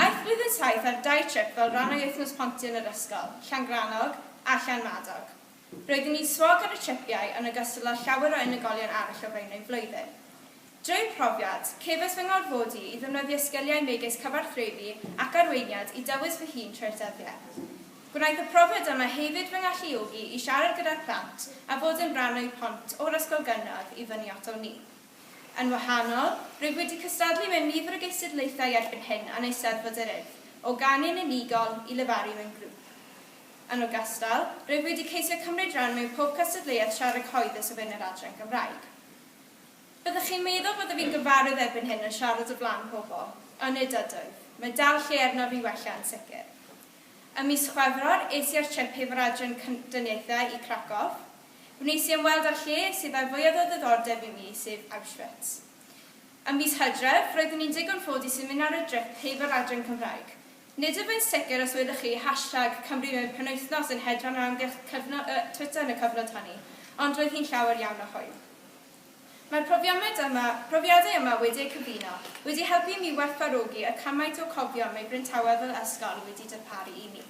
S3: Aeth blwyddyn saith ar dau trip fel rhan o'i wythnos pontio yn yr ysgol, Llangrannog a Llanmadog. Roeddwn i'n swog ar y tripiau yn ogystal â llawer o unigolion arall o fewn ein flwyddyn. Drwy'r profiad, cefais fy ngorfodi i ddefnyddio sgiliau megis cyfathrebu ac arweiniad i dywys fy hun trwy'r dyddiau. Gwnaeth y profiad yma hefyd fy ngalluogi i siarad gyda'r plant a bod yn rhan o'u pont o'r ysgol gynradd i fyny at wn i. Yn wahanol, rwyf wedi cystadlu mewn nifer o gystadlaethau erbyn hyn a'n Eisteddfod yr Urdd, o ganu'n unigol i lefaru mewn grŵp. Yn ogystal, rwyf wedi ceisio cymryd rhan mewn pob cystadleuaeth siarad cyhoeddus o fewn yr adran Gymraeg. Byddech chi'n meddwl byddaf i'n gyfarwydd erbyn hyn yn siarad o flaen pobl, ond nid ydwyf, mae dal lle arnof i wella yn sicr. Ym mis Chwefror, es i ar trip hefo'r adran Cyndoniaethau i Krakow. Wnes i ymweld â'r lle sydd â'r fwyaf o ddiddordeb i mi, sef Auschwitz. Ym mis Hydref, roeddwn i'n ddigon ffodus i mynd ar y drip hefo'r adran Cymraeg, Nid ydw i'n sicr os welwch chi hashtag Cambriwr Penwythnos yn hedfan o amgylch cyfnod y Twitter yn y cyfnod honni, ond roedd hi'n llawer iawn o hwyl. Mae'r
S5: profiamyd yma, profiadau yma wedi eu cyfuno, wedi helpu i mi werthfawrogi y cymaint o cofion mae Bryntawe fel ysgol wedi darparu i mi.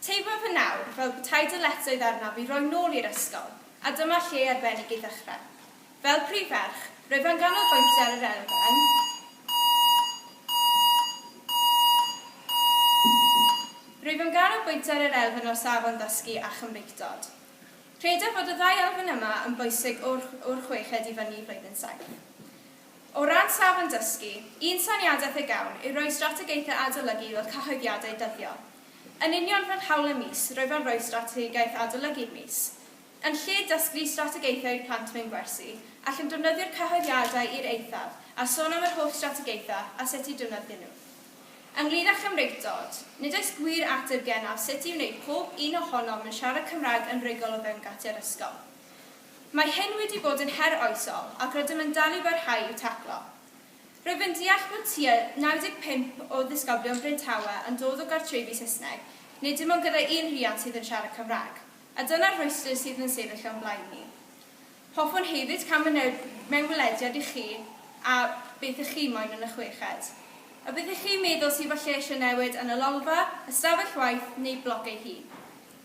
S5: Teimlo fy nawdd fel petai dyletswydd arnaf i roi nôl i'r ysgol, a dyma lle arbennig i ddechrau. Fel prif ferch, rwyf yn ganolbwyntio ar yr elfen Rwyf yn ganolbwyntio ar yr elfen o safon ddysgu a Chymreictod. Credaf fod y ddau elfen yma yn bwysig o'r o'r chweched i fyny i flwyddyn saith. O ran safon dysgu, un syniadaeth y gawn yw rhoi strategaethau adolygu fel cyhoeddiadau dyddiol. Yn union fel hawl y mis, rwyf yn rhoi strategaeth adolygu'r mis. Yn lle dysglu strategaethau'r plant mewn gwersi, allwn defnyddio'r cyhoeddiadau i'r eithaf a sôn am yr holl strategaethau a sut i defnyddio nhw. Ynglŷn â Chymreig Dod, nid oes gwir ateb genaf sut i wneud pob un ohonom yn siarad Cymraeg yn rhugl o fewn gatiau'r ysgol. Mae hyn wedi bod yn her oesol ac rydym yn dal i barhau i'w taclo. Rwyf yn deall bod tua 95 o ddisgyblion Bryn Tawe yn dod o gartrefi Saesneg, nid dim ond gyda un rhiant sydd yn siarad Cymraeg. A dyna'r rhwystr sydd yn sefyll o'n blaen ni. Hoffwn hefyd cael myned mewn gwelediad i chi a beth ych chi moyn yn y chweched. A beth ych chi'n meddwl sydd falle eisiau newid yn y Lolfa, ystafell waith neu bloc ei hun?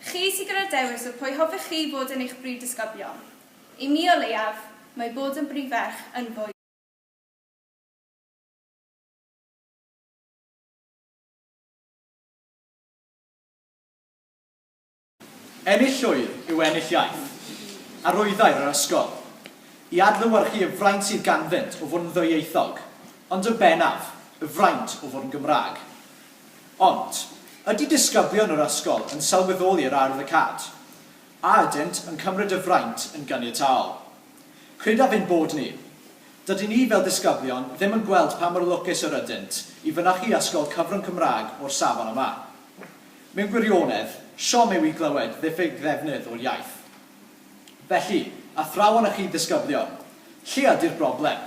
S5: Chi sydd gyda'r dewis o pwy hoffech chi fod yn eich brif disgyblion. I mi o leiaf, mae bod yn brif ferch yn fwy.
S6: Ennill llwyr yw ennill iaith. Arwyddair yr ysgol. I adlewyrchu y fraint sydd ganddynt o fod yn ddwyieithog, ond yn bennaf, y fraint o fod yn Gymraeg. Ond, ydy disgyblion yr ysgol yn sylweddoli yr air 'the cat'? A ydynt yn cymryd y fraint yn ganiataol? Credaf ein bod ni. Dydyn ni fel disgyblion ddim yn gweld pa mor lwcus yr ydynt i fynychu ysgol cyfrwng Cymraeg o'r safon yma. Mewn gwirionedd, siom yw i glywed ddiffyg ddefnydd o'r iaith. Felly, athrawon a chi ddisgyblion, lle ydy'r broblem?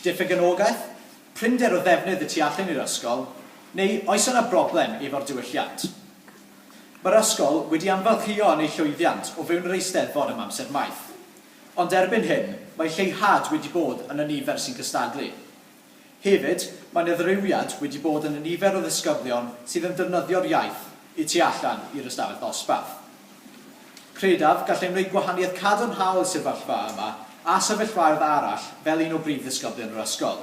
S6: Diffyg anogaeth? Prinder o ddefnydd y tu allan i'r ysgol? Neu oes yna broblem efo'r diwylliant? Mae'r ysgol wedi anfarchio yn ei llwyddiant o fewn yr Eisteddfod am amser maith. Ond erbyn hyn, mae lleihad wedi bod yn y nifer sy'n cystadlu. Hefyd, mae 'na ddirywiad wedi bod yn y nifer o ddisgyblion sydd yn defnyddio'r iaith y tu allan i'r ystafell ddosbarth. Credaf, gallai wneud gwahaniaeth cadarnhaol y sefyllfa yma a sefyllfaoedd arall fel un o brif ddisgyblion yr ysgol.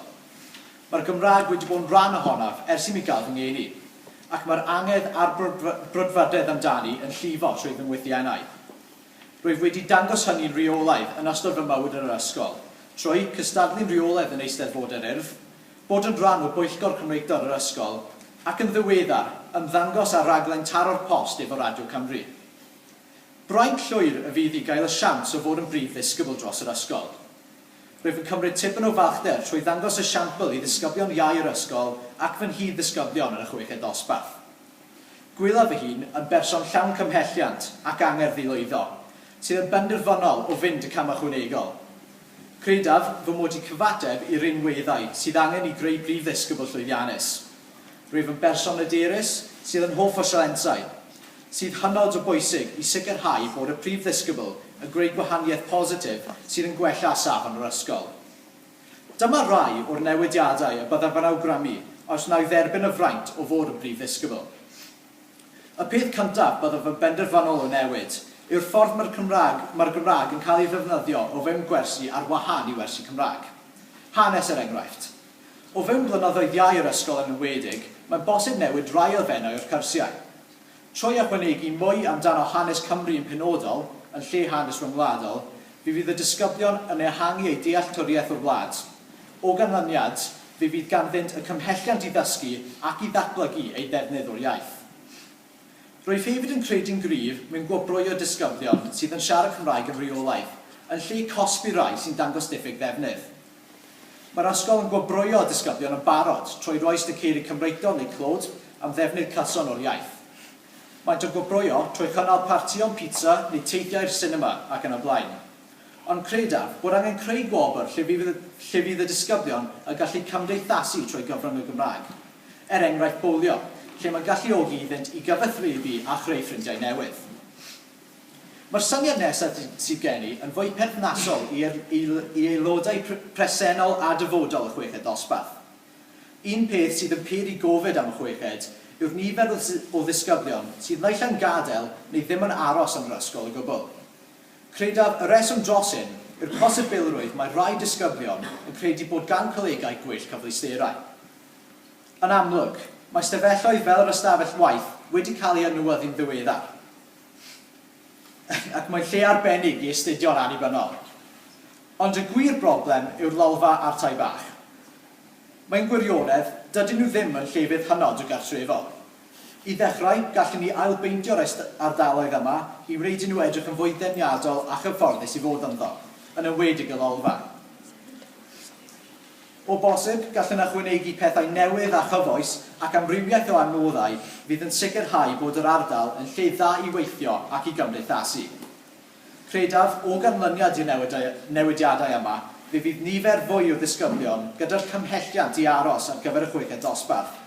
S6: Mae'r Gymraeg wedi bod yn rhan ohonaf ers i mi gael fy ngeni, ac mae'r angerdd a'r brwdfrydedd amdani yn llifo trwy fy ngwythiennau. Rwyf wedi dangos hynny'n rheolaidd yn ystod fy mywyd yn yr ysgol, trwy cystadlu'n rheolaidd yn Eisteddfod yr Urdd, bod yn rhan o Bwyllgor Cymreictod yr ysgol, ac yn ddiweddar, ymddangos ar raglen Taro'r Post efo Radio Cymru. Braint llwyr y fydd i gael y siawns o fod yn brif ddisgybl dros yr ysgol. Rwyf yn cymryd tipyn o falchder trwy ddangos y siampl i ddisgyblion iau yr ysgol ac fy nghyd-ddisgyblion yn y chweched ddosbarth. Gwylaf fy hun yn berson llawn cymhelliant ac angerdd i lwyddo, sydd yn benderfynol o fynd y cam ychwanegol. Credaf fy mod i cyfateb i rinweddau sydd angen i greu brif ddisgybl llwyddiannus. Rwyf yn berson hyderus, sydd yn hoff o sialensau. sydd hynod o bwysig i sicrhau bod y prif ddisgybl yn gwneud gwahaniaeth positif sydd yn gwella safon yr ysgol. Dyma rai o'r newidiadau y byddaf yn awgrymu os na i dderbyn y fraint o fod yn brif ddisgybl. Y peth cyntaf byddaf yn benderfynol o newid yw'r ffordd mae'r Cymraeg mae'r Gymraeg yn cael ei ddefnyddio o fewn gwersi ar wahân i wersi Cymraeg hanes er enghraifft. O fewn blynyddoedd iau yr ysgol yn enwedig, mae'n bosib newid rai elfennau o'r cyrsiau. Trwy ychwanegu mwy amdano hanes Cymru yn penodol, yn lle hanes ryngwladol, fe fydd y disgyblion yn ehangu eu dealltwriaeth o'r wlad. O ganlyniad, fe fydd ganddynt y cymhelliant i ddysgu ac i ddatblygu eu defnydd o'r iaith. Rwyf hefyd yn credu'n gryf mewn gwobrwyo disgyblion sydd yn siarad Cymraeg yn rheolaidd, yn lle cosbi rai sy'n dangos diffyg ddefnydd. Mae'r ysgol yn gwobrwyo y disgyblion yn barod trwy roi sticeri Cymreictod neu clod am ddefnydd cyson o'r iaith. Maent yn gwobrwyo trwy chynnal partïon pizza neu teithiau i'r sinema ac yn y blaen. Ond credaf bod angen creu gwobr lle fydd y lle fydd y disgyblion y gallu cymdeithasu trwy gyfrwng y Gymraeg. Er enghraifft bowlio, lle mae'n galluogi iddynt i gyfathrebu a chreu ffrindiau newydd. Mae'r syniad nesaf sydd gen i yn fwy perthnasol i i aelodau presennol a dyfodol y chweched ddosbarth. Un peth sydd yn pur i gofid am y chweched yw'r nifer o ddisgyblion sydd naill ai'n gadael neu ddim yn aros yn yr ysgol o gwbl. Credaf y rheswm dros hyn yw'r posibilrwydd mae rhai disgyblion yn credu bod gan colegau gwell cyfleusterau. Yn amlwg, mae stafelloedd fel yr ystafell waith wedi cael eu adnewyddu'n ddiweddar. ac mae'n lle arbennig i astudio'n annibynnol. Ond y gwir broblem yw'r lolfa a'r tai bach. Mewn gwirionedd, dydyn nhw ddim yn llefydd hynod o gartrefol. I ddechrau, gallwn ni ailbeintio'r ardaloedd yma i wneud i nhw edrych yn fwy deniadol a chyfforddus i fod ynddo, yn enwedig y lolfa. O bosib, gallwn ychwanegu pethau newydd a chyfoes ac amrywiaeth o adnoddau fydd yn sicrhau bod yr ardal yn lle dda i weithio ac i gymdeithasu. Credaf, o ganlyniad i'r newidiadau yma, fe fydd nifer fwy o ddisgyblion gyda'r cymhelliant i aros ar gyfer y chweched dosbarth,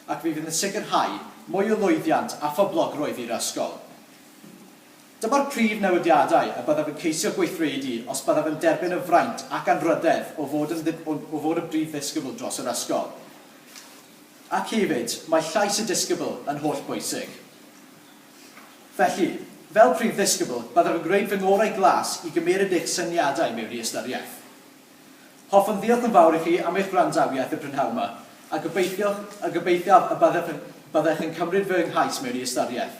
S6: ac fe fydd yn sicrhau mwy o lwyddiant a phoblogrwydd i'r ysgol. Dyma'r prif newidiadau y byddaf yn ceisio gweithredu os byddaf yn derbyn y fraint ac anrhydedd o fod yn o fod yn brif ddisgybl dros yr ysgol. Ac hefyd, mae llais y disgybl yn holl bwysig. Felly, fel prif ddisgybl, byddaf yn gwneud fy ngorau glas i gymeryd eich syniadau mewn i ystyriaeth. Hoffwn ddiolch yn fawr i chi am eich gwrandawiaeth y prynhawn ma, a gobeithioch, a gobeithiaf y byddech, byddech yn cymryd fy nghais mewn i ystyriaeth.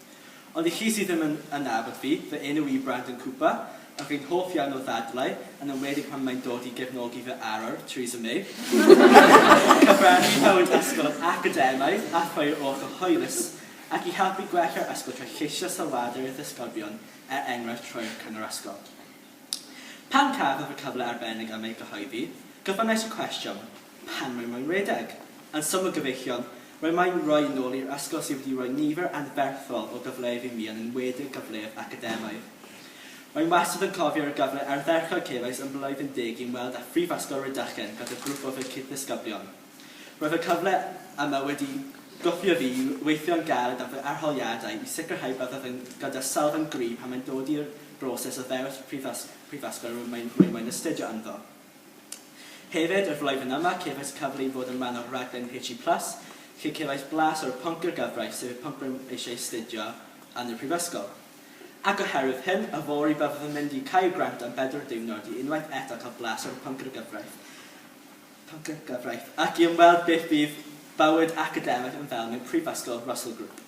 S7: Ond i chi sydd ddim yn yn nabod fi, fy enw i yw Brandon Cooper, a fi'n hoff iawn o ddadlau, yn enwedig pan mae'n dod i gefnogi fy arwr, Theresa May. Rwy'n cyfrannu i fywyd ysgol yr academaidd a threuo oll o hwylus, ac i helpu gwella'r ysgol trwy lleisio sylwadau ar ei ddisgyblion, er enghraifft rhoi'r cyngor ysgol. Pan cafaf y cyfle arbennig am ei gyhoeddi, gofynnais y cwestiwn, Pam roi moyn redeg? Yn syml gyfeillion, roi moyn roi yn ôl i'r ysgol sydd wedi rhoi nifer anferthol o gyfleoedd i mi yn enwedig gyfleoedd academaidd. Rwy'n wastad yn cofio'r gyfle ardderchog cefais ym Mhlwyddyn Deg i ymweld â Phrifysgol Rhydychen gyda grŵp o fy cyd-ddisgyblion. Roedd y cyfle yma wedi gwthio fi i weithio'n galed ar fy arholiadau i sicrhau byddaf yn gydawsal fy nghri pan mae'n dod i'r broses o ddewis prifysgol rwy'n moyn astudio ynddo. Hefyd, y flwyddyn yma, cefais cyfle i fod yn rhan o'r rhaglen HE Plus, lle cefais blas o'r pwnc i'r gyfraith, sef y pwnc rwy'n eisiau astudio yn y prifysgol. Ac oherwydd hyn, yfory byddaf yn mynd i Caergrawnt am bedwar diwrnod i unwaith eto cael blas o'r pwnc i'r gyfraith. Pam gyntaf, reit, ac i ymweld beth fydd bywyd academaidd yn fel mewn prifysgol Russell Group.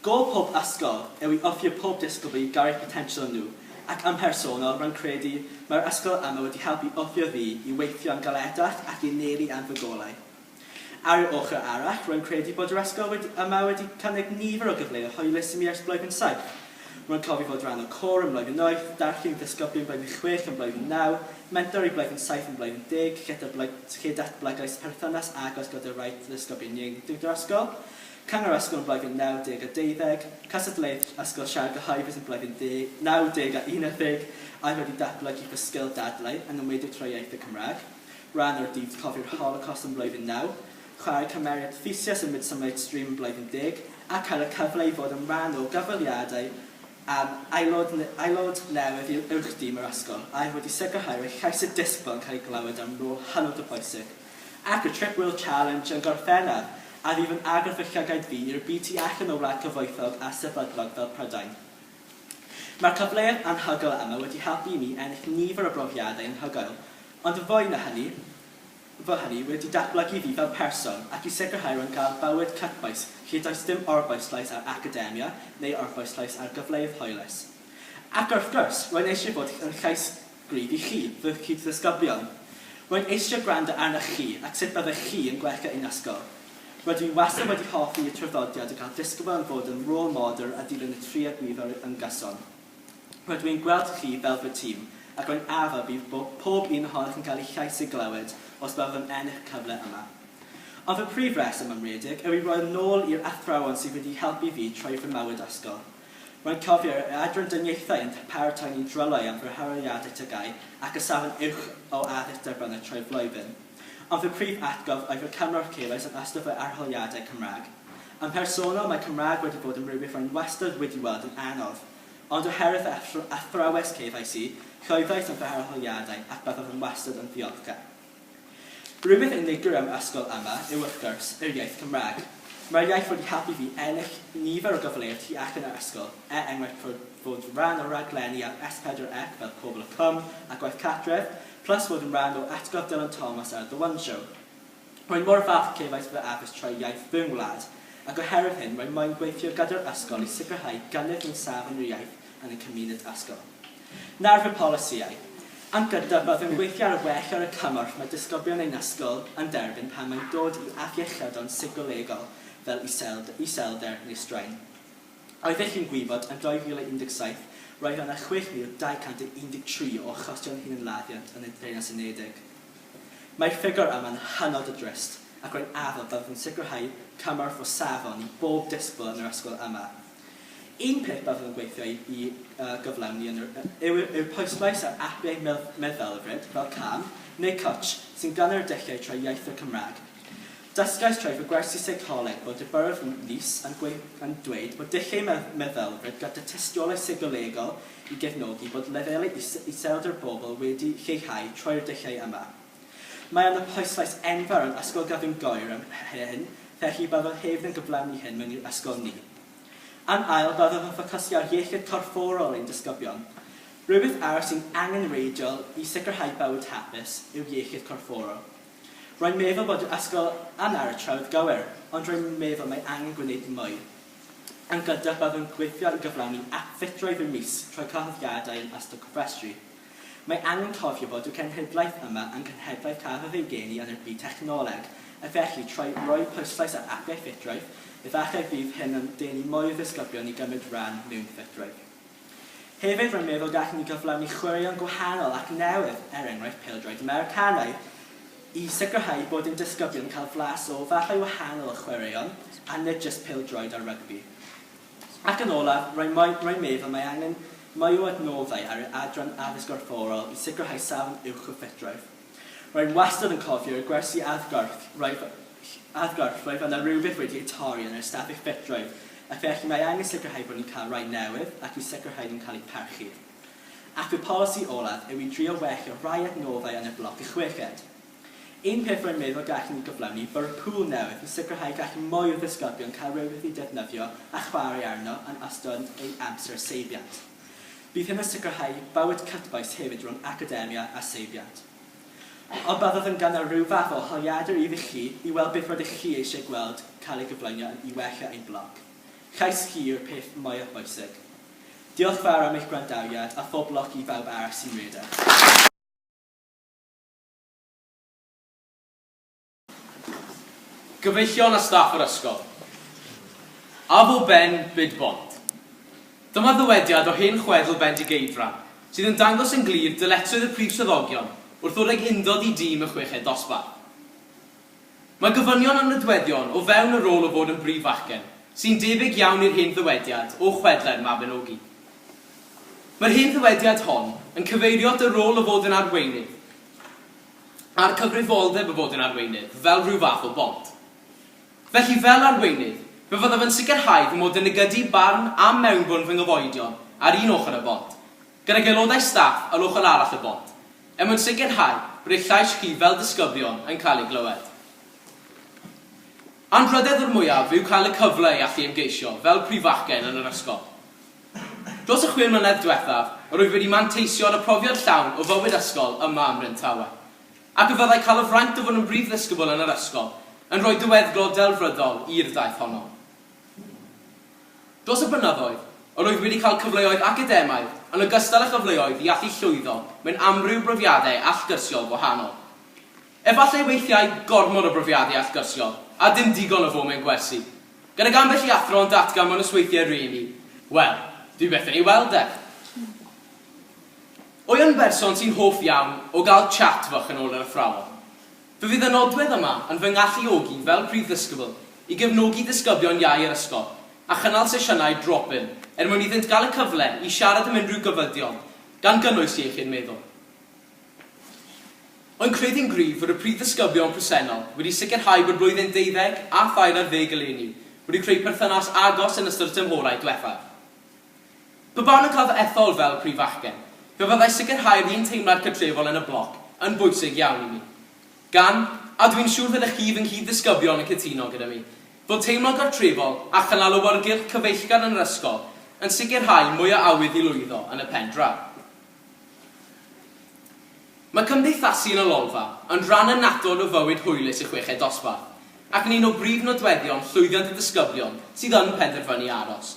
S7: Gôl pob ysgol yw i offi y pob disgybl i garu'r potensial yn nhw, ac yn mhersonol, rwy'n credu mae'r ysgol yma wedi helpu offiwr fi i weithio'n galetach ac i anelu am fy golau. Ar yr ochr arall, rwy'n credu bod yr ysgol wedi yma wedi cynnig nifer o gyfleoedd hwylus i mi ersblogi'n saith, Rwy'n cofio fod rhan o côr yn Blwyddyn Wyth, darllen i ddysgoblion Blwyddyn Chwech yn Blwyddyn Naw, mentor i Blwyddyn Saith yn Blwyddyn Deg, lle datblygais perthynas agos gyda rhai ddysgoblion ieuenctid yr ysgol, Cyngor Ysgol yn Blwyddyn Naw Deg a Deuddeg, cystadleuaeth ysgol siarad gyhoeddus yn Blwyddyn Naw Deg a Unarddeg, a oedd wedi datblygu fy sgil dadlau yng ngymryd y tro iaith y Cymraeg, rhan o'r Dydd Cofi'r Holocost yn Blwyddyn Naw. chwarae cymeriad Theseus yn Midsummer Night's Dream Blwyddyn Deg a cael y cyfle i fod yn rhan o gyfweliadau am aelod aelod newydd i'r Uwch-dîm yr ysgol a oedd wedi sicrhau roi llais y disgybl yn cael ei glywed am rôl hynod o bwysig ac y Trip Wheel Challenge yn Gorffennaf a fydd yn agor fy llygaid fi i'r byd tu allan o wlad cyfoethog a sefydlog fel Prydain. Mae'r cyfleoedd anhygoel yma wedi helpu i mi ennill nifer o brofiadau anhygoel, ond yn fwy na hynny, fy hynny wedi datblygu fi fel person ac i sicrhau rwy'n cael bywyd cytbwys lle does dim orbwyslais ar academia neu orbwyslais ar gyfleoedd hwylus. Ac wrth gwrs, rwy'n eisiau bod yn llais gryf i chi, fy cyd-ddisgyblion. Rwy'n eisiau gwrando arnoch chi a sut byddech chi yn gwella ein ysgol. Rydw i wastad wedi hoffi y traddodiad o gael disgybl yn fod yn rôl model a dilyn y triad gryf yn gyson. Rydw i'n gweld chi fel fy tîm, ac rwy'n addo bydd pob un ohonoch yn cael eich llais ei glywed os byddwch yn ennill y cyfle yma. Ond fy prif reswm, am redeg, yw i roi'r nôl i'r athrawon sydd wedi helpu fi troi fy mywyd ysgol. Rwy'n cofio yr Adran Dyniaethau yn paratoi ni'n drylwyr am fy harholiadau TGAU ac y safon uwch o addysg derbynnau trwy'r flwyddyn. Ond fy prif atgof oedd fy cymorth chi roes yn ystod fy arholiadau Cymraeg. Yn mhersonol, mae Cymraeg wedi bod yn rhywbeth rwy'n wastad wedi weld yn anodd. Ond oherwydd fy athrawes KYC, llwyddais yn fy arholiadau ac byddaf yn wastad yn ddiolchgar. Rhywbeth unigryw am ysgol yma yw wrth gwrs yr iaith Cymraeg. Mae'r iaith wedi helpu fi ennill nifer o gyfleoedd tu allan yr ysgol, er enghraifft fod fod rhan o raglenni ar S4C fel Pobl y Cwm a Gwaith Cartref, plus fod yn rhan o Atgof Dylan Thomas ar The One Show. Rwy'n mor falch cefais fy addysg trwy iaith fy ngwlad, ac oherwydd hyn rwy moyn gweithio gyda'r ysgol i sicrhau gynnydd mewn safon yr iaith yn y cymuned ysgol. Nawr fy polisïau. Am gyntaf, byddwn gweithio ar well ar y cymorth mae disgyblion ein ysgol yn derbyn pan mae'n dod i afiechydon seicolegol fel iselder neu straen. Oeddech chi'n gwybod, yn 2017, roedd yna 6,213 o achosion hunanladdiant yn y Deyrnas Unedig. Mae'r ffigwr yma'n hynod o drist, ac rwy'n addo byddwch yn sicrhau cymorth o safon i bob disgybl yn yr ysgol yma. Un peth byddwn yn gweithio i gyflawni yn yr yw'r pwyslais ar apiau meddylfryd fel Calm neu Couch sy'n gynnar y dulliau trwy iaitho'r Cymraeg. Dysgais trwy fy gwersi seicoleg bod y Borough of Nice yn dweud bod dulliau meddylfryd gyda tystiolaeth seicolegol i gefnogi bod lefelau iselder bobl wedi lleihau trwy'r dulliau yma. Mae yna pwyslais enfawr yn Ysgol Gavin Goyr am hyn, felly byddaf hefyd yn gyflawni hyn mewn i'r ysgol ni. Yn ail, byddaf yn ffocysu ar iechyd corfforol ein disgyblion. Rhywbeth arall sy'n angenrheidiol i sicrhau bywyd hapus yw iechyd corfforol. Rwy'n meddwl bod yr ysgol yna ar y trywydd gywir, ond rwy'n meddwl mae angen gwneud mwy. Yn gyntaf, byddwn gweithio i gyflawni ap ffitrwydd y mis trwy cyhoeddiadau yn ystod cofrestru. Mae angen cofio fod y cenhedlaeth yma yn cenhedlaeth cafodd ei geni yn y byd technoleg, a felly trwy roi pwyslais ar apiau ffitrwydd, efallai fydd hyn yn denu mwy o ddisgyblion i gymryd rhan mewn ffitrwydd. Hefyd rwy'n meddwl gallwn ni gyflawni chwaraeon gwahanol ac newydd, er enghraifft pêl-droed Americanaidd, i sicrhau bod ein disgyblion yn cael flas o fathau wahanol o chwaraeon a nid jyst pêl-droed a rygbi. Ac yn olaf, rwy'n meddwl mae angen mwy o adnoddau ar yr adran Addysg Gorfforol i sicrhau safon uwch o ffitrwydd. Rwy'n wastad yn cofio y gwersi addgarth, roedd addgarth, roedd yna rywbeth wedi ei torri yn yr ystafell fedroedd, a felly mae angen sicrhau bod ni'n cael rhai newydd ac i sicrhau nhw'n cael eu parchu. Ac fy polisi olaf yw i drio wellio rhai adnoddau yn y bloc y chweched. Un peth rwy'n meddwl gallen ni gyflawni, bwrw pŵl newydd i sicrhau gall mwy o ddisgyblion cael rhywbeth i ddefnyddio a chwarae arno yn ystod eu amser seibiant. Bydd hyn yn sicrhau bywyd cytbwys hefyd rhwng academia a seibiant. Ond byddaf yn gynnal rhyw fath o holiadur i chi i weld beth rydych chi eisiau gweld cael ei gyflwyno i wella ein blog. Llais chi yw'r peth mwyaf bwysig. Diolch fawr am eich gwrandawiad a phob lwc i bawb arall sy'n redeg.
S8: Gyfeillion a staff yr ysgol. Afo Ben byd bont. Dyma ddywediad o hen chwedl Bendigeidfran sydd yn dangos yn glir dyletswydd y prif swyddogion wrth ddod ag undod i dîm y chweched dosbarth. Mae gofynion am nodweddion o fewn y rôl o fod yn brif fachgen, sy'n debyg iawn i'r hen ddywediad o chwedlau'r Mabinogi. Mae'r hen ddywediad hon yn cyfeirio at y rôl o fod yn arweinydd. a'r cyfrifoldeb o fod yn arweinydd fel rhyw fath o bont. Felly, fel arweinydd, fe fyddaf yn sicrhau fy mod yn nygydu barn a mewnbwn fy nghyfoedion ar un ochr y bont, gydag aelodau staff ar ochr arall y bont, er mwyn sicrhau bod eich llais chi fel disgyblion yn cael ei glywed. Anrhydedd o'r mwyaf yw cael y cyfle i allu ymgeisio fel prifachgen yn yr ysgol. Dros y chwe mlynedd diwethaf, rwyf wedi manteisio ar y profiad llawn o fywyd ysgol yma ym Mhrydawe. Ac y fyddai cael y fraint o fod yn brif ddisgybl yn yr ysgol yn rhoi diweddglo delfrydol i'r daith honno. Dros y blynyddoedd, rwyf wedi cael cyfleoedd academaidd yn ogystal â chyfleoedd i allu llwyddo mewn amryw brofiadau allgyrsiol gwahanol. Efallai weithiau gormod o brofiadau allgyrsiol a dim digon o fo mewn gwersi. Gydag ambell i athro yn datgan fo' 'na sweithie rili, wel, dwi byth yn ei weld e. Wy yn berson sy'n hoff iawn o gael chat fach yn ôl yr athrawon. Fe fydd y nodwedd yma yn fy ngalluogi fel prif ddysgybl i gefnogi disgyblion iau yr ysgol a chynnal sesiynau drop-in er mwyn iddynt gael y cyfle i siarad am unrhyw gyfydion, gan gynnwys iechyd meddwl. Rwy'n credu'n gryf fod y prif ddisgyblion presennol wedi sicrhau bod blwyddyn deuddeg a thair ar ddeg eleni wedi creu perthynas agos yn ystod y tymhorau diwethaf. Pe bawn yn cael fy ethol fel prif fachgen, fe fyddai sicrhau'r un teimlad cartrefol yn y bloc yn bwysig iawn i mi. Gan, a dw i'n siŵr fyddech chi fy nghyd-ddisgyblion yn cytuno gyda mi, fod teimlo gartrefol a chynnal awyrgylch cyfeillgar yn yr ysgol yn sicrhau mwy o awydd i lwyddo yn y pen draw. Mae cymdeithasu yn y Lolfa yn rhan annatod o fywyd hwylus y Chweched Dosbarth ac yn un o brif nodweddion llwyddiant y disgyblion sydd yn penderfynu aros.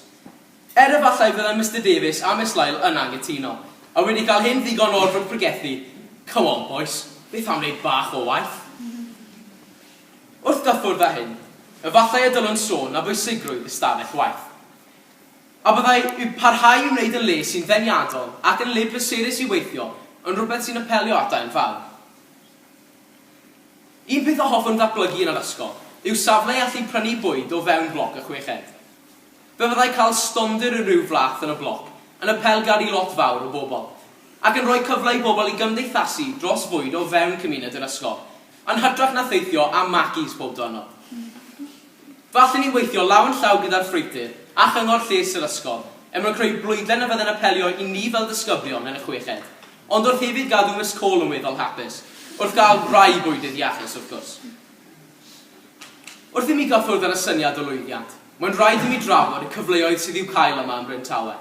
S8: Er efallai fyddai Mister Davies a Miss Lyle yn anghytuno, a wedi cael hyn ddigon o'r fwrdd pregethu, Come on bois, beth am wneud bach o waith? Wrth gyffwrdd â hyn, efallai y dylwn sôn am bwysigrwydd ystafell waith. A byddai parhau i wneud yn le sy'n ddeniadol ac yn le pleserus i weithio yn rhywbeth sy'n apelio at daearn fawr? Un peth a hoffwn ddatblygu yn yr ysgol yw safle i allu prynu bwyd o fewn bloc y chweched. Fe fyddai cael stondin o ryw fath yn y bloc yn apelgar i lot fawr o bobl, ac yn rhoi cyfle i bobl i gymdeithasu dros fwyd o fewn cymuned yr ysgol, Yn hytrach na theithio am Mackies pob diwrnod, falle ni weithio law yn llaw gyda'r ffreutur a chyngor lles yr ysgol er mwyn creu blwydlen y fydde'n apelio i ni fel disgyblion yn y chweched, ond wrth hefyd gadw Miss Cole yn weddol hapus, wrth gael rhai bwydydd iachus, wrth gwrs. Wrth i mi gael ffwrdd ar y syniad o lwyddiant, mae'n rhaid i mi drafod y cyfleoedd sydd i'w cael yma yn Bryn Tawe.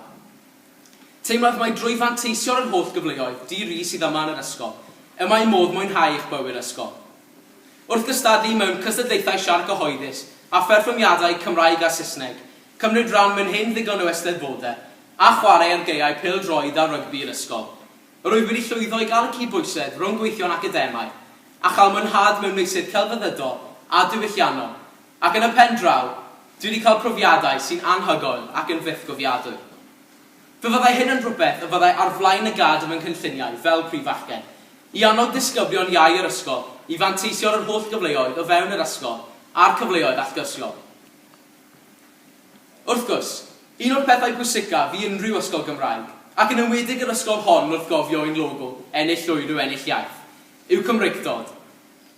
S8: Teimlaf mai drwy fanteisio ar yr holl gyfleoedd di-ri sydd yma yn yr ysgol y mae modd mwynhau eich bywyd ysgol. Wrth gystadlu mewn cystadlaethau siarc gyhoeddus a pherfformiadau Cymraeg a Saesneg, cymryd rhan mewn hen ddigon o Eisteddfodau, a chwarae ar gaeau pêl-droed a rygbi yr ysgol, rwyf wedi llwyddo i gael y cyd-bwysedd rhwng gweithio'n academaidd a chael mwynhad mewn meysydd celfyddydol a diwylliannol. Ac yn y pen draw, dwi wedi cael profiadau sy'n anhygoel ac yn fythgofiadwy. Fe fyddai hyn yn rhywbeth y byddai ar flaen y gad yn fy nghynlluniau fel prif fachgen, i annog disgyblion iau yr ysgol i fanteisio ar yr holl gyfleoedd o fewn yr ysgol a'r cyfleoedd allgyrsiol. Wrth gwrs, un o'r pethau pwysicaf i unrhyw ysgol Gymraeg, ac yn enwedig yr ysgol hon wrth gofio ein logo, ennill llwyr yw ennill iaith, yw Cymreictod.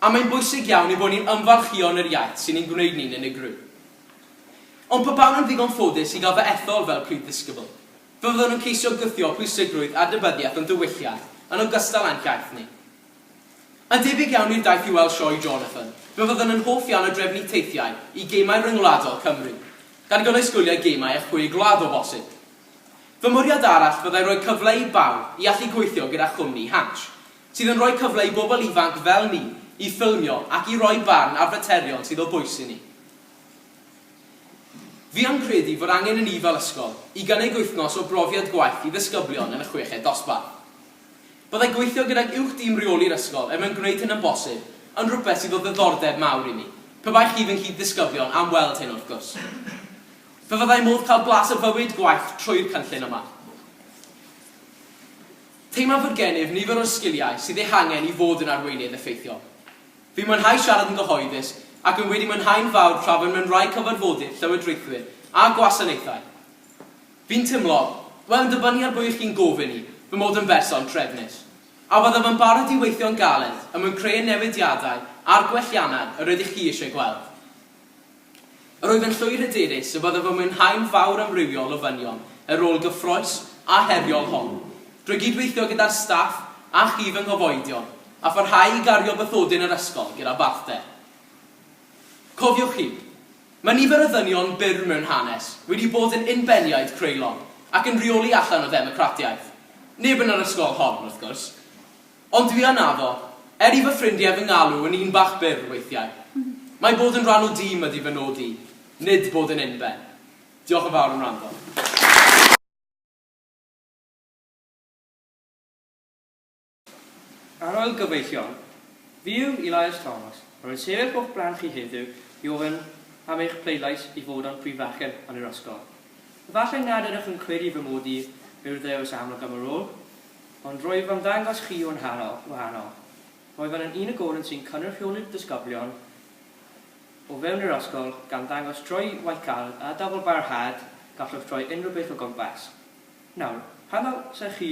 S8: A mae'n bwysig iawn ein bod ni'n ymfalchïo yn yr iaith sy'n ein gwneud ni'n unigryw. Ond pe bawn yn ddigon ffodus i gael fy ethol fel prif ddisgybl, fe fyddwn yn ceisio gwthio pwysigrwydd adnabyddiaeth o'n diwylliant yn ogystal â'n hiaith ni. Yn debyg iawn i'r daith i weld Sioe Jonathan, fe fyddwn yn hoff iawn o drefnu teithiau i gemau ryngwladol Cymru, gan gynnwys gwyliau gemau y Chwe Gwlad o bosib. Fy mwriad arall fyddai rhoi cyfle i bawb i allu gweithio gyda chwmni Hansh, sydd yn rhoi cyfle i bobl ifanc fel ni i ffilmio ac i roi barn ar faterion sydd o bwys i ni. Fi am credu fod angen i ni fel ysgol i gynnig wythnos o brofiad gwaith i ddisgyblion yn y chweched dosbarth. Byddai gweithio gydag uwch dîm reoli'r ysgol er mwyn gwneud hyn yn bosib yn rhywbeth sydd o ddiddordeb mawr i ni, pe baech chi fy nghyd-ddisgyblion am weld hyn wrth gwrs. Fe fyddai modd cael blas o fywyd gwaith trwy'r cynllun yma. Teimlaf fod gennyf nifer o'r sgiliau sydd eu hangen i fod yn arweinydd effeithiol. Fi'n mwynhau siarad yn gyhoeddus ac rwy'n wedi mwynhau'n fawr trafod mewn rhai cyfarfodydd llywodraethwyr a gwasanaethau. Fi'n teimlo, wel yn dibynnu ar bwy ych chi'n gofyn i, fy mod yn berson trefnus. A byddaf yn barod i weithio'n galed er mwyn creu y newidiadau a'r gwelliannau yr ydych chi eisiau gweld. Yr oedd yn llwyr hyderus y byddaf yn mwynhau'n fawr amrywiol o ddynion y rôl gyffrous a heriol hon. Drwy gyd-weithio gyda'r staff a chi fy nghyfoedion, a pharhau i gario bythodyn yr ysgol gyda balchder. Cofiwch hyn, Mae nifer o ddynion byr mewn hanes wedi bod yn unbeniaid creulon ac yn rheoli allan o ddemocratiaeth. Neb yn yr ysgol hon, wrth gwrs. Ond dwi yn addo, er i fy ffrindie fy ngalw yn un bach byr weithiau. Mae bod yn rhan o dîm ydi fy nod i, nid bod yn unben. Diolch yn fawr am wrando.
S9: Ar ol gyfeillion, fi yw Elias Thomas, rwy'n sefyll o'ch blaen chi heddiw i ofyn am eich pleidlais i fod am Prif Fachgen yn yr ysgol. Efallai nad ydych yn credu fy mod i yw'r ddewis amlwg am y rôl, Ond rwyf am ddangos chi un hanner wahanol. Rwyf yn unigolyn sy'n cynrychioli'r disgyblion o fewn yr ysgol, gan ddangos trwy waith caled a dyfal barhad gallwch droi unrhyw beth o gwmpas. Nawr, pam ddylsech chi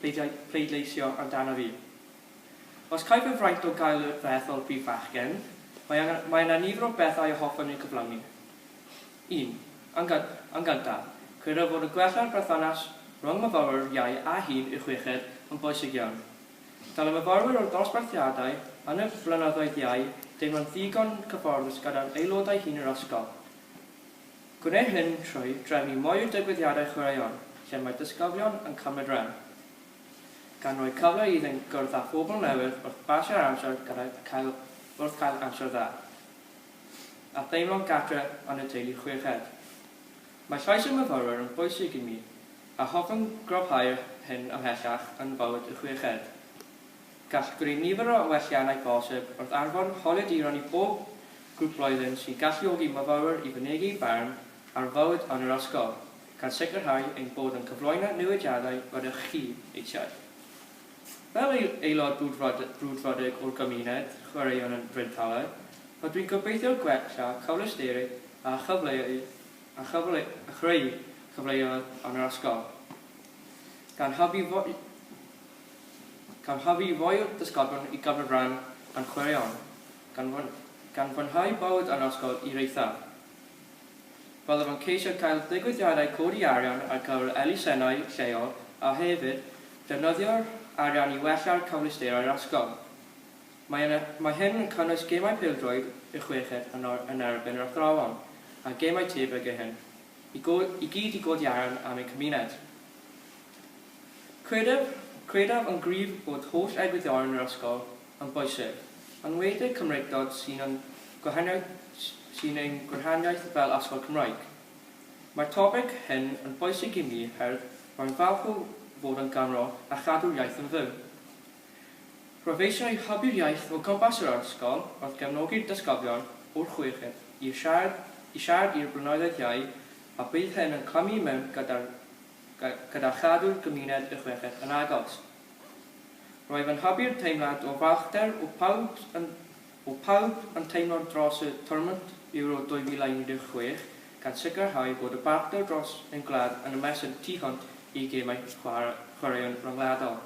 S9: pleidleisio amdano fi? Os caiff y fraint o gael y peth o'r brif fachgen, mae yna nifer o bethau y hoffwn eu cyflawni. Yn yn gyntaf, credaf fod y gwella'r berthynas rhwng myfyrwyr Iau a Hŷn i'r Chweched yn bwysig iawn. Dylai myfyrwyr o'r ddosbarthiadau yn y Blynyddoedd Iau deimlo'n ddigon cyfforddus gyda'r aelodau hŷn yr ysgol. Gwneir hyn trwy drefnu mwy o digwyddiadau chwaraeon lle mae disgyblion yn cymryd rhan, gan roi cyfle iddynt gwrdd â phobl newydd wrth basio'r amser gydag cael wrth cael amser dda. a theimlo'n gartre yn y teulu chweched. Mae llais y myfyrwyr yn bwysig i mi, a hoffwn gryfhau'r hyn ymhellach yn fywyd y chweched. Gall greu nifer o welliannau posib wrth anfon holiaduron i bob grŵp blwyddyn sy'n galluogi myfyrwyr i fynegi'u barn ar fywyd yn yr ysgol, gan sicrhau ein bod yn cyflwyno newidiadau rydych chi eisiau. Fel aelod brwdfrydig o'r gymuned chwaraeon yn Bryn Talar, rydw i'n gobeithio gwella cyfleusterau a chreu cyfleoedd yn yr ysgol, gan hybu rhoi'r disgyblion i gymryd rhan yn chwaraeon, gan fwynhau bywyd yn yr ysgol i'r eithaf. Byddaf yn ceisio cael digwyddiadau codi arian ar gyfer elusennau lleol a hefyd defnyddio'r arian i wella'r cyfleusterau'r ysgol. Mae yn mae hyn yn cynnwys gemau pêl-droed y chweched yn or yn erbyn yr athrawon a gemau tebyg i hyn, i go i gyd i godi arian am ein cymuned. Credaf credaf yn gryf bod holl egwyddorion yr ysgol yn boesig, yn enwedig Cymreictod sy'n ein gwahaniaeth fel Athro Cymraeg. Mae'r topig hyn yn boesig i mi herwydd rwy'n falch o fod yn ganro a chadw'r iaith yn fyw. Rwyf eisiau hybu'r iaith o gwmpas yr ysgol wrth gefnogi'r disgyblion o'r chweched i siarad i'r blynyddoedd iau a bydd hyn yn clymu i mewn gyda chadw'r gymuned y chweched yn agos. Rwyf yn hybu'r teimlad o balchder o pawb yn o pawb yn teimlo dros y Tournament Euro 2016, gan sicrhau bod y balchder dros ein gwlad yn ymestyn tu hwnt i gemau chwaraeon ryngwladol.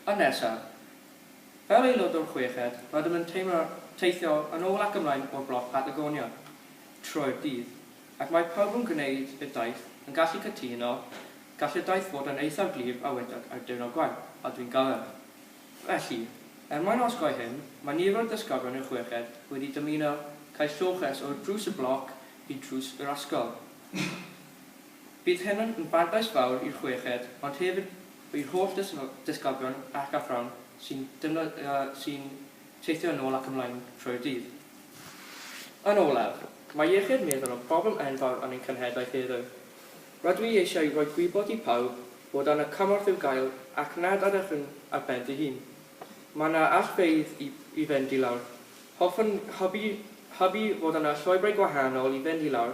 S9: Yn nesaf, fel aelod o'r chweched, rydym yn teimlo teithio yn ôl ac ymlaen o'r bloc Patagonia trwy'r dydd, ac mae pawb yn gwneud y daith yn gallu cytuno Gall y daith fod yn eithaf glir a wedag ar diwrnod gwaith, a dwi'n galed. Felly, er mwyn osgoi hyn, mae nifer o ddysgafon i'r chweched wedi dymuno cael lloches o drws y bloc i drws yr ysgol. Bydd hyn yn fantais fawr i'r chweched ond hefyd i'r holl ddysgafon ac athrawon sy'n sy'n teithio yn ôl ac ymlaen trwy'r dydd. Yn olaf, mae iechyd meddwl yn problem enfawr yn ein cenhedlaeth heddiw. Rydw i eisiau rhoi gwybod i pawb bod yna cymorth i'w gael ac nad ydych yn ar ben dy hun. Mae yna allfeydd i i fynd i lawr. Hoffwn hybu hybu fod yna llwybrau gwahanol i fynd i lawr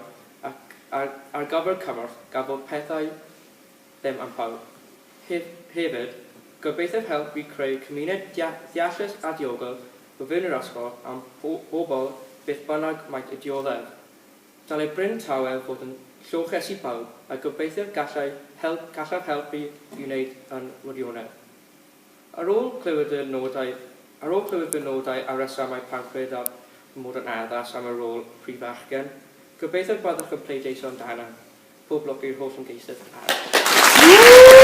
S9: ac ar ar gyfer cymorth gan bod pethau ddim am pawb. Hef hefyd, gobeithiaf helpu i creu cymuned dia ddeallus a diogel o fewn yr ysgol am bo bobl beth bynnag maent y dioddef. Dylai Bryn Tawel fod yn lloches i bawb a gobeithir gallai help gallaf helpu i wneud yn wirionedd. Ar ôl clywed y nodau Ar ôl clywed fy nodau a rhesymau pam credaf fy mod yn addas am y rôl Prif Fachgen, gobeithio y byddwch yn pleidleisio amdana. Pob lwc i'r holl ymgeisydd arall.